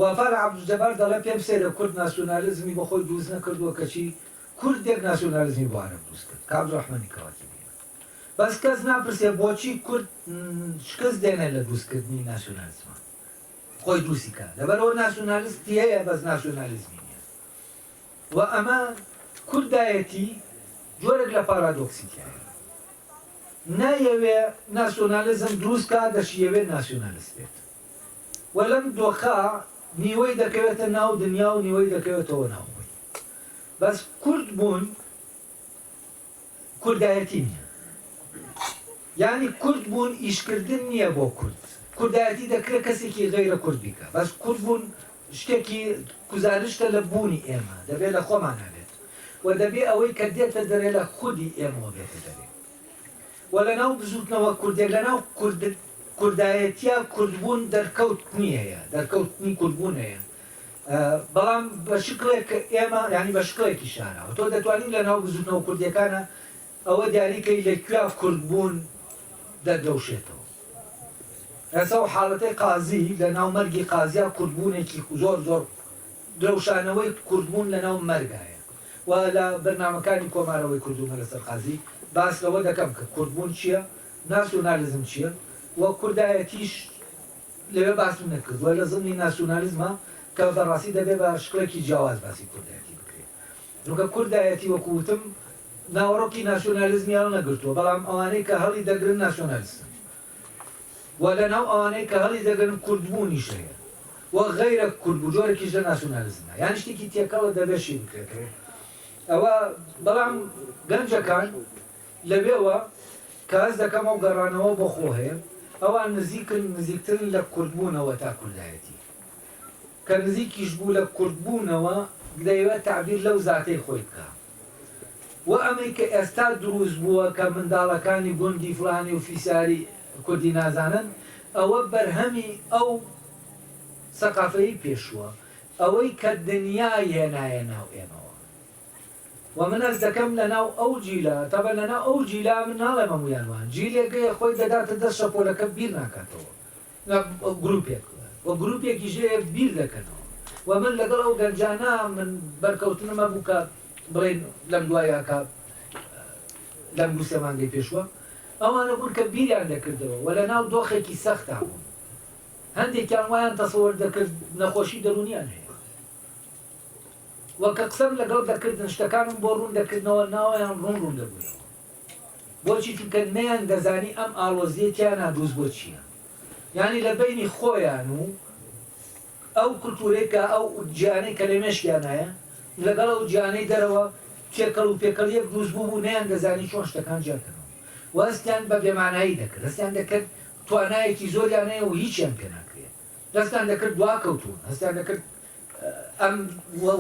وەفا لە عەبدولجەبار دەڵێ، پێم سەیرە کورد ناسیونالیزمی بۆ خۆی دروست نەکردووە کەچی کوردێک ناسیونالیزمی بۆ عەرەب دروست کرد کە عەبدولرەحمانی کەواتی بینن. بەس کەس ناپرسێ بۆچی کورد شکست دێنێ لە دروستکردنی ناسیونالیزمان؟ خۆی دروستی کا لەبەرەوە ناسیونالیست تیەیە بەس ناسیونالیزمی نیە و ئەمە کوردایەتی جۆرێک لە پارادۆکسی تیایە نایەوێ ناسیۆنالیزم دروست کا دەشیەوێت ناسیۆنالیست بێت و لەم دۆخە نیوەی دەکەوێتە ناو دنیا و نیوەی دەکەوێتەوە ناوخۆی بەس کورد بوون کوردایەتی نیە یانی کورد بوون ئیش کردن نیە بۆ کورد کوردایەتی دەکرێ کەسێکی غەیرە کورد بیکا بەس کورد بوون شتێکی گوزارشتە لە بوونی ئێمە دەبێ لە خۆمانا بێت وە دەبێ ئەوەی کە دێتە دەرێ لە خودی ئێمەوە بێتە دەرێ وە لە ناو بزوتنەوە کوردێک لە ناو کورد کوردایەتیا کوردبوون دەرکەوت نیەیە دەرکەوتنی کوردبوونەیە بەڵام بە شکڵێک کە ئێمە یانی بە شکڵێکی شاراوە تۆ دەتوانی لە ناو بزووتنەوە کوردیەکانە ئەوە دیاری کەی لە کوێ کورد بوون دەدرەوشێتەوە ئێستا و حاڵەتەی قازی لە ناو مەرگی قازیا کوردبوونێکی زۆر زۆر درەوشانەوەی کوردبوون لە ناو مەرگایە و لە بەرنمەکانی کۆمارەوەی کوردومە لەسەر قازی باس لەوە دەکەم کە کوردبوون چییە ناسیۆنالیزم چییە و کوردایەتیش لەوێ باسی نەکردووە لە زمنی ناسیونالیزما کە بە ڕاستی دەبێ بە شکڵێکی جیاواز باسی کوردایەتی بکرێ چونکە کوردایەتی وەکوو وتم ناوەڕۆکی ناسیونالیزمی هەڵنەگرتووە بەڵام ئەوانەی کە هەڵی دەگرن ناسیونالیستن و لە ناو ئەوانەی کە هەڵی دەگرن کوردبوونیش هەیە و غەیرە کوردبوو جۆرێکیش لە ناسیونالیزمە یان شتێکی تێکەڵە دەبێ شی بکرێتەوە ئەوە بەڵام گەنجەکان لەوێوە کە هەست دەکەم ئەو گەڕانەوە بۆ خۆ هەیە، ئەوان نزیکن، نزیکترن لە کوردبوونەوە تا کوردایەتی. کە نزیکیش بوو لە کوردبوونەوە، دەیەوێت تەعبیر لەو زاتەی خۆی بکا. وە ئەمەی کە ئێستا دروست بووە کە منداڵەکانی گوندی فڵانی و فیساری کوردی نازانن، ئەوە بەرهەمی ئەو سەقافەی پێشووە، ئەوەی کە دنیای هێنایە ناو ئێمەوە. وە من هەست دەکەم لەناو ئەو جیلە تەبەن لەناو ئەو جیلە من ناڵێم هەموویان وان جیلێکەیە خۆی دەداتە دەست شەپۆلەکە بیر ناکاتەوە نا گروپێک وە گروپێکیش هەیە بیر دەکەنەوە وە من لەگەڵ ئەو گەنجانە من بەرکەوتنم هەبوو کە بڵێن لەم دوای ئاکا لەم دوو سێ مانگەی پێشوە ئەوانە بوون کە بیریان دەکردەوە وە لەناو دۆخێکی سەختا بوون هەندێکیان وایان تەسەوەر دەکرد نەخۆشی دەروونیان هەیە و کە قسەم لەگەڵ دەکردن شتەکانم بۆ ڕوون دەکردنەوە ناوەیان ڕوون ڕوون دەبوویەوە بۆچی چونکە نەیان دەزانی ئەم ئاڵۆزیە تیانا دروست بۆ چیە یانی لە بەینی خۆیان و ئەو کلتورەی کە ئەو جیانەی کە لە مێشکیانایە لەگەڵ ئەو جیانەی دەرەوە تێکەڵ و پێکەڵیەک دروست بوو بوو نەیان دەزانی چۆن شتەکان جیاکەنەوە و هەستیان بە بێمانایی دەکرد هەستیان دەکرد توانایەکی زۆریان هەیە و هیچیان پێ ناکرێت دەستیان دەکرد دواکەوتوون، هەستیان دەکرد ئەم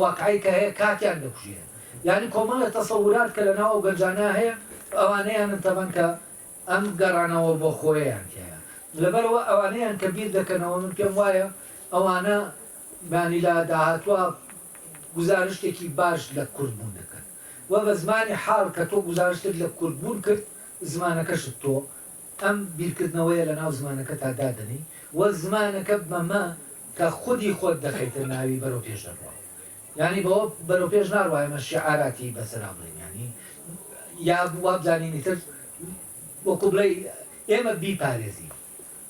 واقعەی کە هەیە کاتیان دەکوژێ. یانی کۆمەڵێ تەسەورات کە لەناو ئەو گەنجانە هەیە، ئەوانەیانن تەبەن کە ئەم گەڕانەوە بۆ خۆیەیان تیایە. لەبەرئەوە ئەوانەیان کە بیر دەکەنەوە، من پێم وایە ئەوانە یانی لە داهاتوا گوزارشتێکی باش لە کوردبوون دەکەن و بە زمانی حاڵ کە تۆ گوزارشتت لە کوردبوون کرد، زمانەکەشت تۆ ئەم بیرکردنەوەیە لە ناو زمانەکەتا دادەنێی و زمانەکە بەمە کە خودی خۆت دەخەیتە ناوی بەرەو پێش دەبڕا. یانی بەوە بەرەو پێش ناڕوا ئێمە شیعاراتی بەسەرا بڵێین یانی یا وابزانین ئیتر وەکو بڵێی ئێمە بیپارێزین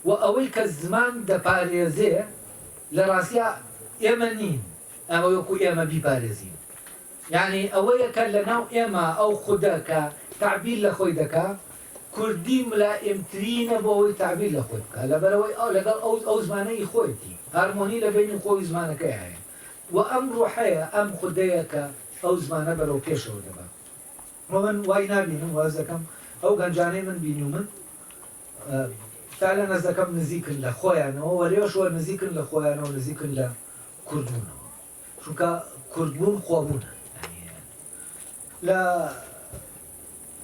و ئەوەی کە زمان دەپارێزێ لە ڕاستیا ئێمە نین ئەوە وەکو ئێمە بیپارێزین یانی ئەوەیە کە لە ناو ئێمە ئەو خودە کە تەعبیر لە خۆی دەکا کوردی ملائمترینە بۆ ئەوەی تەعبیر لە خۆی بکا لەبەرئەوەی لەگەڵ ئەو ئەو زمانە ی خۆیەتی هارمۆنی لە بەینی خۆی و زمانەکەیا هەیە و ئەم ڕوحەیە ئەم خودەیە کە ئەو زمانە بەرەو پێشەوە دەبا و من وای نابینم واز دەکەم ئەو گەنجانەی من بینیومن تا لە نەزەکەم نزیکن لە خۆیانەوە و لێشوە نزیکن لە خۆیانەوە نزیکن لە کوردبوونەوە. چونکە کورد بوون خۆ بوونە یانی لە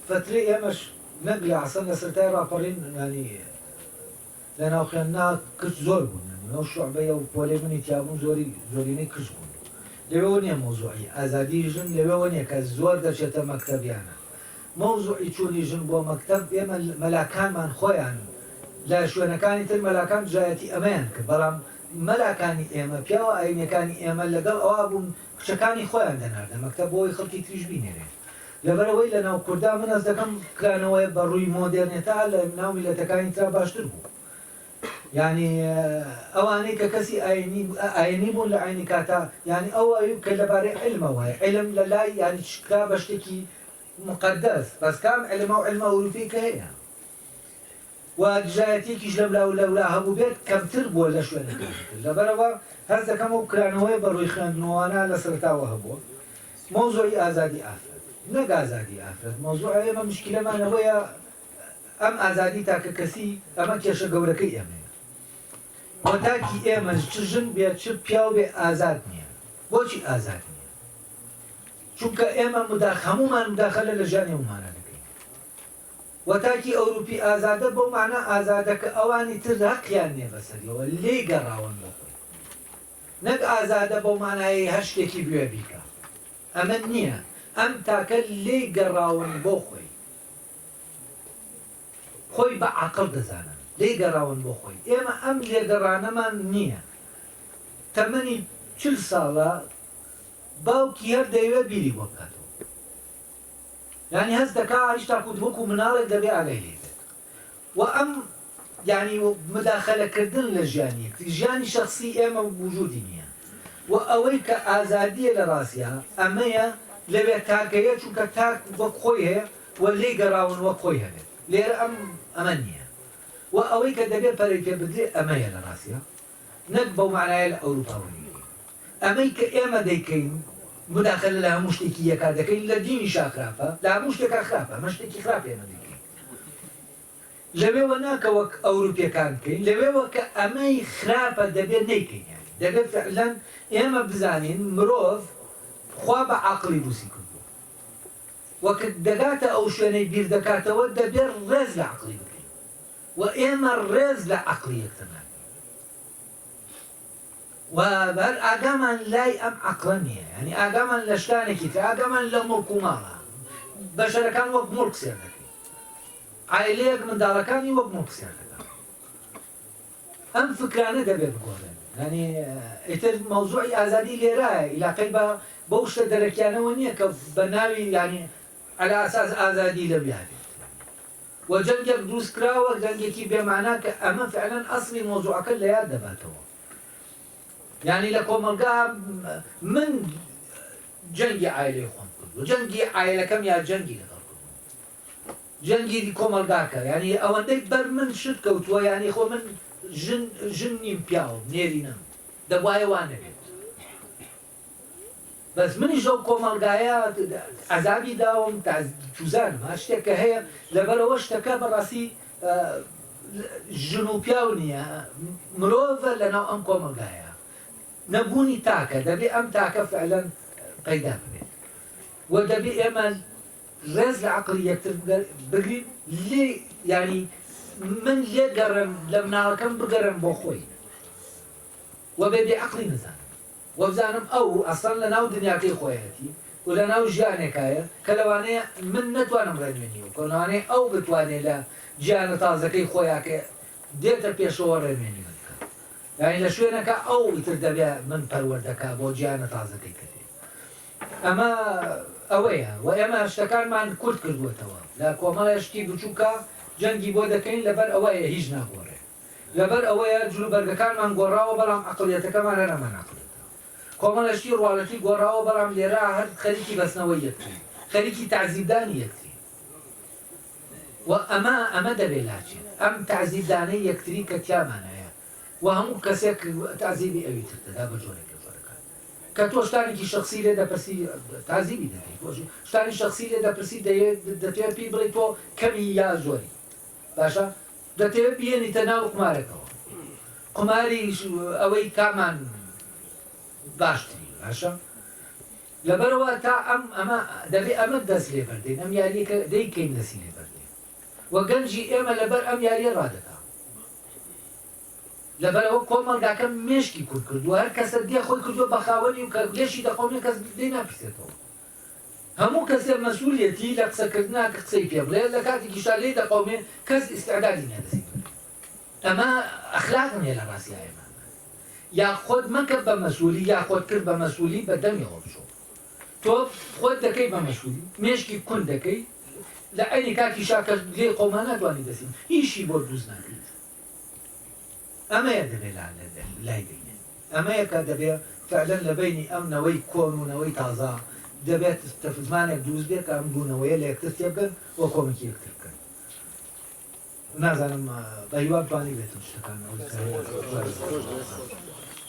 فترەی ئێمەش نەک لە ئەسڵەن لە سەرەتای ڕاپەڕین یانی لە ناو خوێندنا کچ زۆر بوون یانی ئەو شوعبەی ئەو پۆلەی منی تیا بوون زۆری زۆرینەی کچ بوون لەوێوە نییە مەوزوعی ئازادی ژن لەوێوە نییە کە زۆر دەچێتە مەکتەب یانە مەوزوعی چوونی ژن بۆ مەکتەب ئێمە مەلاکانمان خۆیان لە شوێنەکانی تر مەلاکان دژایەتی ئەمەیان کرد بەڵام مەلاکانی ئێمە پیاوە ئاینیەکانی ئێمە لەگەڵ ئەوە بوون کچەکانی خۆیان دەناردە مەکتەب بۆ ئەوەی خەڵکی تریش بینێرێ لەبەر ئەوەی لە ناو کوردا من هەست دەکەم کرانەوەیە بە ڕووی مۆدێرنێتە لە ناو میلەتەکانی ترا باشتر بوو یعنی ئەوانەی کە کەسی ئاینی ئاینی بوون لە عینی کاتا یعنی ئەو ئەوی کە لەبارەی علمەوە علم لە لای یعنی شکرا بە شتێکی مقدس بەس کام علم ئەو علمە ئەوروپی کە هەیە و دژایەتیەکیش لەم لاو لەولا هەبوبێت کەمتر بوە لە شوێنەکانی تر لەبەرەوە هەست دەکەم ئەو کرانەوەیە بە روی خوێندنوانە لە سەرەتاوە هەبوە مەوزوعی ئازادی ئافرەت نەک ئازادی ئافرەت مەوزوع ئێمە مشکلەمان ئەوەیە ئەم ئازادی تاکە کەسی ئەمە کێشە گەورەکەی ئێمەیە وە تاکی ئێمەش چ ژن بێت چ پیاو بێ ئازاد نیە بۆچی ئازاد نیە چونکە ئێمە مداخ هەموومان مداخەلە لە ژیانی ئەومانا دەکەین و تاکی ئەوروپی ئازادە بەو مانا ئازادە کە ئەوانی تر هەقیان نیە بەسەریەوە لێی گەڕاون بۆ خۆی نەک ئازادە بەو مانایەی هەر شتێکی بوێ بیکا ئەمە نیە ئەم تاکە لێی گەڕاون بۆ خۆی خۆی بە عقل دەزانن لێی گەڕاون بۆ خۆی ئێمە ئەم لێگەڕانەمان نییە تەمەنی چل ساڵە باوکی هەر دەیەوێت بیری بۆ بکاتەوە یانی هەست دەکا هیچ تاکو وەکو مناڵێک دەبێ ئاگای لێ بێت و ئەم یانی مداخەلەکردن لە ژیانی یەکتری ژیانی شخصی ئێمە وجودی نییە و ئەوەی کە ئازادیە لە ڕاستیا ئەمەیە لەوێ تاکەیە چونکە تاک وەک خۆی هەیە و لێی گەڕاون وەک خۆی هەبێت لێرە ئەم ئەمە نییە و ئەوەی کە دەبێ پەرەی پێ بدرێ ئەمەیە لە ڕاستیا نەک بەو مانایە لە ئەوروپا وەرگیرێین. ئەمەی کە ئێمە دەیکەین موداخەلە لە هەموو شتێکی یەکا دەکەین، لە دینیشا خراپە، لە هەموو شتێکا خراپە، ئەمە شتێکی خراپە ئێمە دەیکەین. لەوێوە نا کە وەک ئەوروپیەکان بکەین، لەوێوە کە ئەمەی خراپە دەبێ نەیکەین یانی دەبێ فعلەن ئێمە بزانین مرۆڤ خوا بە عەقڵی دروستی کردووە و کە دەگاتە ئەو شوێنەی بیردەکاتەوە دەبێ ڕێز لە عەقڵی بگرین. و ئێمە ڕێز لە عەقڵی یەکترناگرین و بەر ئاگامان لای ئەم عەقڵە نییە یانی ئاگامان لە شتانێکی تر ئاگامان لە موڵک و ماڵە بەشەرەکان وەک موڵک سێر دەکەین عایلەیەک منداڵەکانی وەک موڵک سێر دەکەن ئەم فکرانە دەبێ بگۆڕێن ینی ئیتر مەوزوعی ئازادی لێرایە ئیلاقەی بە بەو شتە دەرەکیانەوە نییە کە بە ناوی ینی على اساس ئازادی لەویانێت و جەنگێک دروستکراوە جەنگێکی بێ مانا کە ئەمە فعلەن ئەسڵی مەوزوعەکە لە یاد دەباتەوە یانی لە کۆمەڵگا من جەنگی عایلەی خۆم کردو جەنگی عایلەکەم یا جەنگی لەگەڵ جەنگی کۆمەلگاکە ینی ئەوەندەی بەر من شت کەوتووە ینی خۆ من ژن نیم پیاوم نێرینم دەبواە وانەبێت بەس منیش ئەو کۆمەڵگایە عەزابی داوم تا چوزانم هەر شتێک کە هەیە لەبەرەوە شتەکە بەڕاستی ژن و پیاو نییە مرۆڤە لەناو ئەم کۆمەڵگایە نەبوونی تاکە دەبێ ئەم تاکە فعلەن پەیدا ببێت و دەبێ ئێمە ڕێز لە عقلی یەکتر بگرین لێ ینی من لێ گەڕم لە مناڵەکەم بگەرم بۆ خۆی وە بێ بێ عقلی نزان وابزانم ئەو ئەسڵەن لەناو دنیاکەی خۆیەتی و لەناو ژیانێکایە کە لەوانەیە من نەتوانم ڕێنوێنی ئەو بکەم، لەوانەیە ئەو بتوانێت لە گیانە تازەکەی خۆیا کە دێتە پێشەوە ڕێنوێنی من بکات. یانی لە شوێنەکە ئەو ئیتر دەبێت من پەروەردە کا بۆ گیانە تازەکەی کە دێت. ئەمە ئەوەیە و ئێمە شتەکانمان کورت کردووەتەوە. لە کۆمەڵێ شتی بچووکە جەنگی بۆ دەکەین لەبەر ئەوەیە هیچ ناگۆڕێت. لەبەر ئەوەیە جلوبەرگەکانمان گۆڕاوە بەڵام ئەقڵیەتەکەمان هەر ئەمان ئەقڵیەتە کۆمەڵە شتی ڕواڵەتی گۆڕاوە بەڵام لێرە هەر خەریکی بەستنەوەی یەکترین خەریکی تەعزیبدانی یەکترین و ئەمە ئەمە دەبێ لاچێت ئەم تەعزیبدانەی یەکتری کە تیامان هەیە و هەموو کەسێک تەعزیبی ئەوی تر دەدا بە جۆرێک لە جۆرەکان کە تۆ شتانێکی شخصی لێ دەپرسی تازیبی دەکەیت شتانی شخصی لێ دەپرسی دەتوێت پێی بڵێ تۆ کەمی یا زۆری باشە دەتەوێت بیێنیتە ناو قومارەکەوە قوماریش ئەوەی کامان باشتری باشە لەبەرەوە تا ئەم ئەمە دەبێ ئەمە دەست لێ بەردەین ئەم یاریەکە دەیکەین دەسی لێ بەردێ و گەنجی ئێمە لەبەر ئەم یاریە ڕادەکە لەبەرەوە کۆمەلگاکە مێشکی کورد کردو هەر کەسە دێ خۆی کردو بەخاوەنی و کە لێشی دەخۆنێ کەس دێ ناپرسێتەوە هەموو کەسێ مەسولیەتی لە قسەکردنا کە قسەی پێ بڵێ لە کاتیکیشا لێی دەقەومێ کەس ئیستعدادی نیە دەسی بگرێ ئەمە ئەخلاق نیە لە ڕاستیا ئێمە یا خۆت مەکە بە مەسولی یا خۆت کرد بە مەسولی بە دەمیەوە بچۆ تۆ خۆت دەکەی بە مەسولی مێشکی کون دەکەی لە عینی کاتیشا کە لێی قەوما ناتوانی دەسی هیچی بۆ دروست ناکەیت ئەمەیە دەبێ لای بینێ. ئەمەیە کە دەبێ فەعلەن لە بەینی ئەم نەوەی کۆن و نەوەی تازە دەبێت تەفزمانێک دروست بێ کە ئەم دوو نەوەیە لە یەکتر تێبگەن و کۆمکی یەکتر بکەن. نازانم بە هیوام توانیبێتم شتەکان ئەوەی کە هەیە.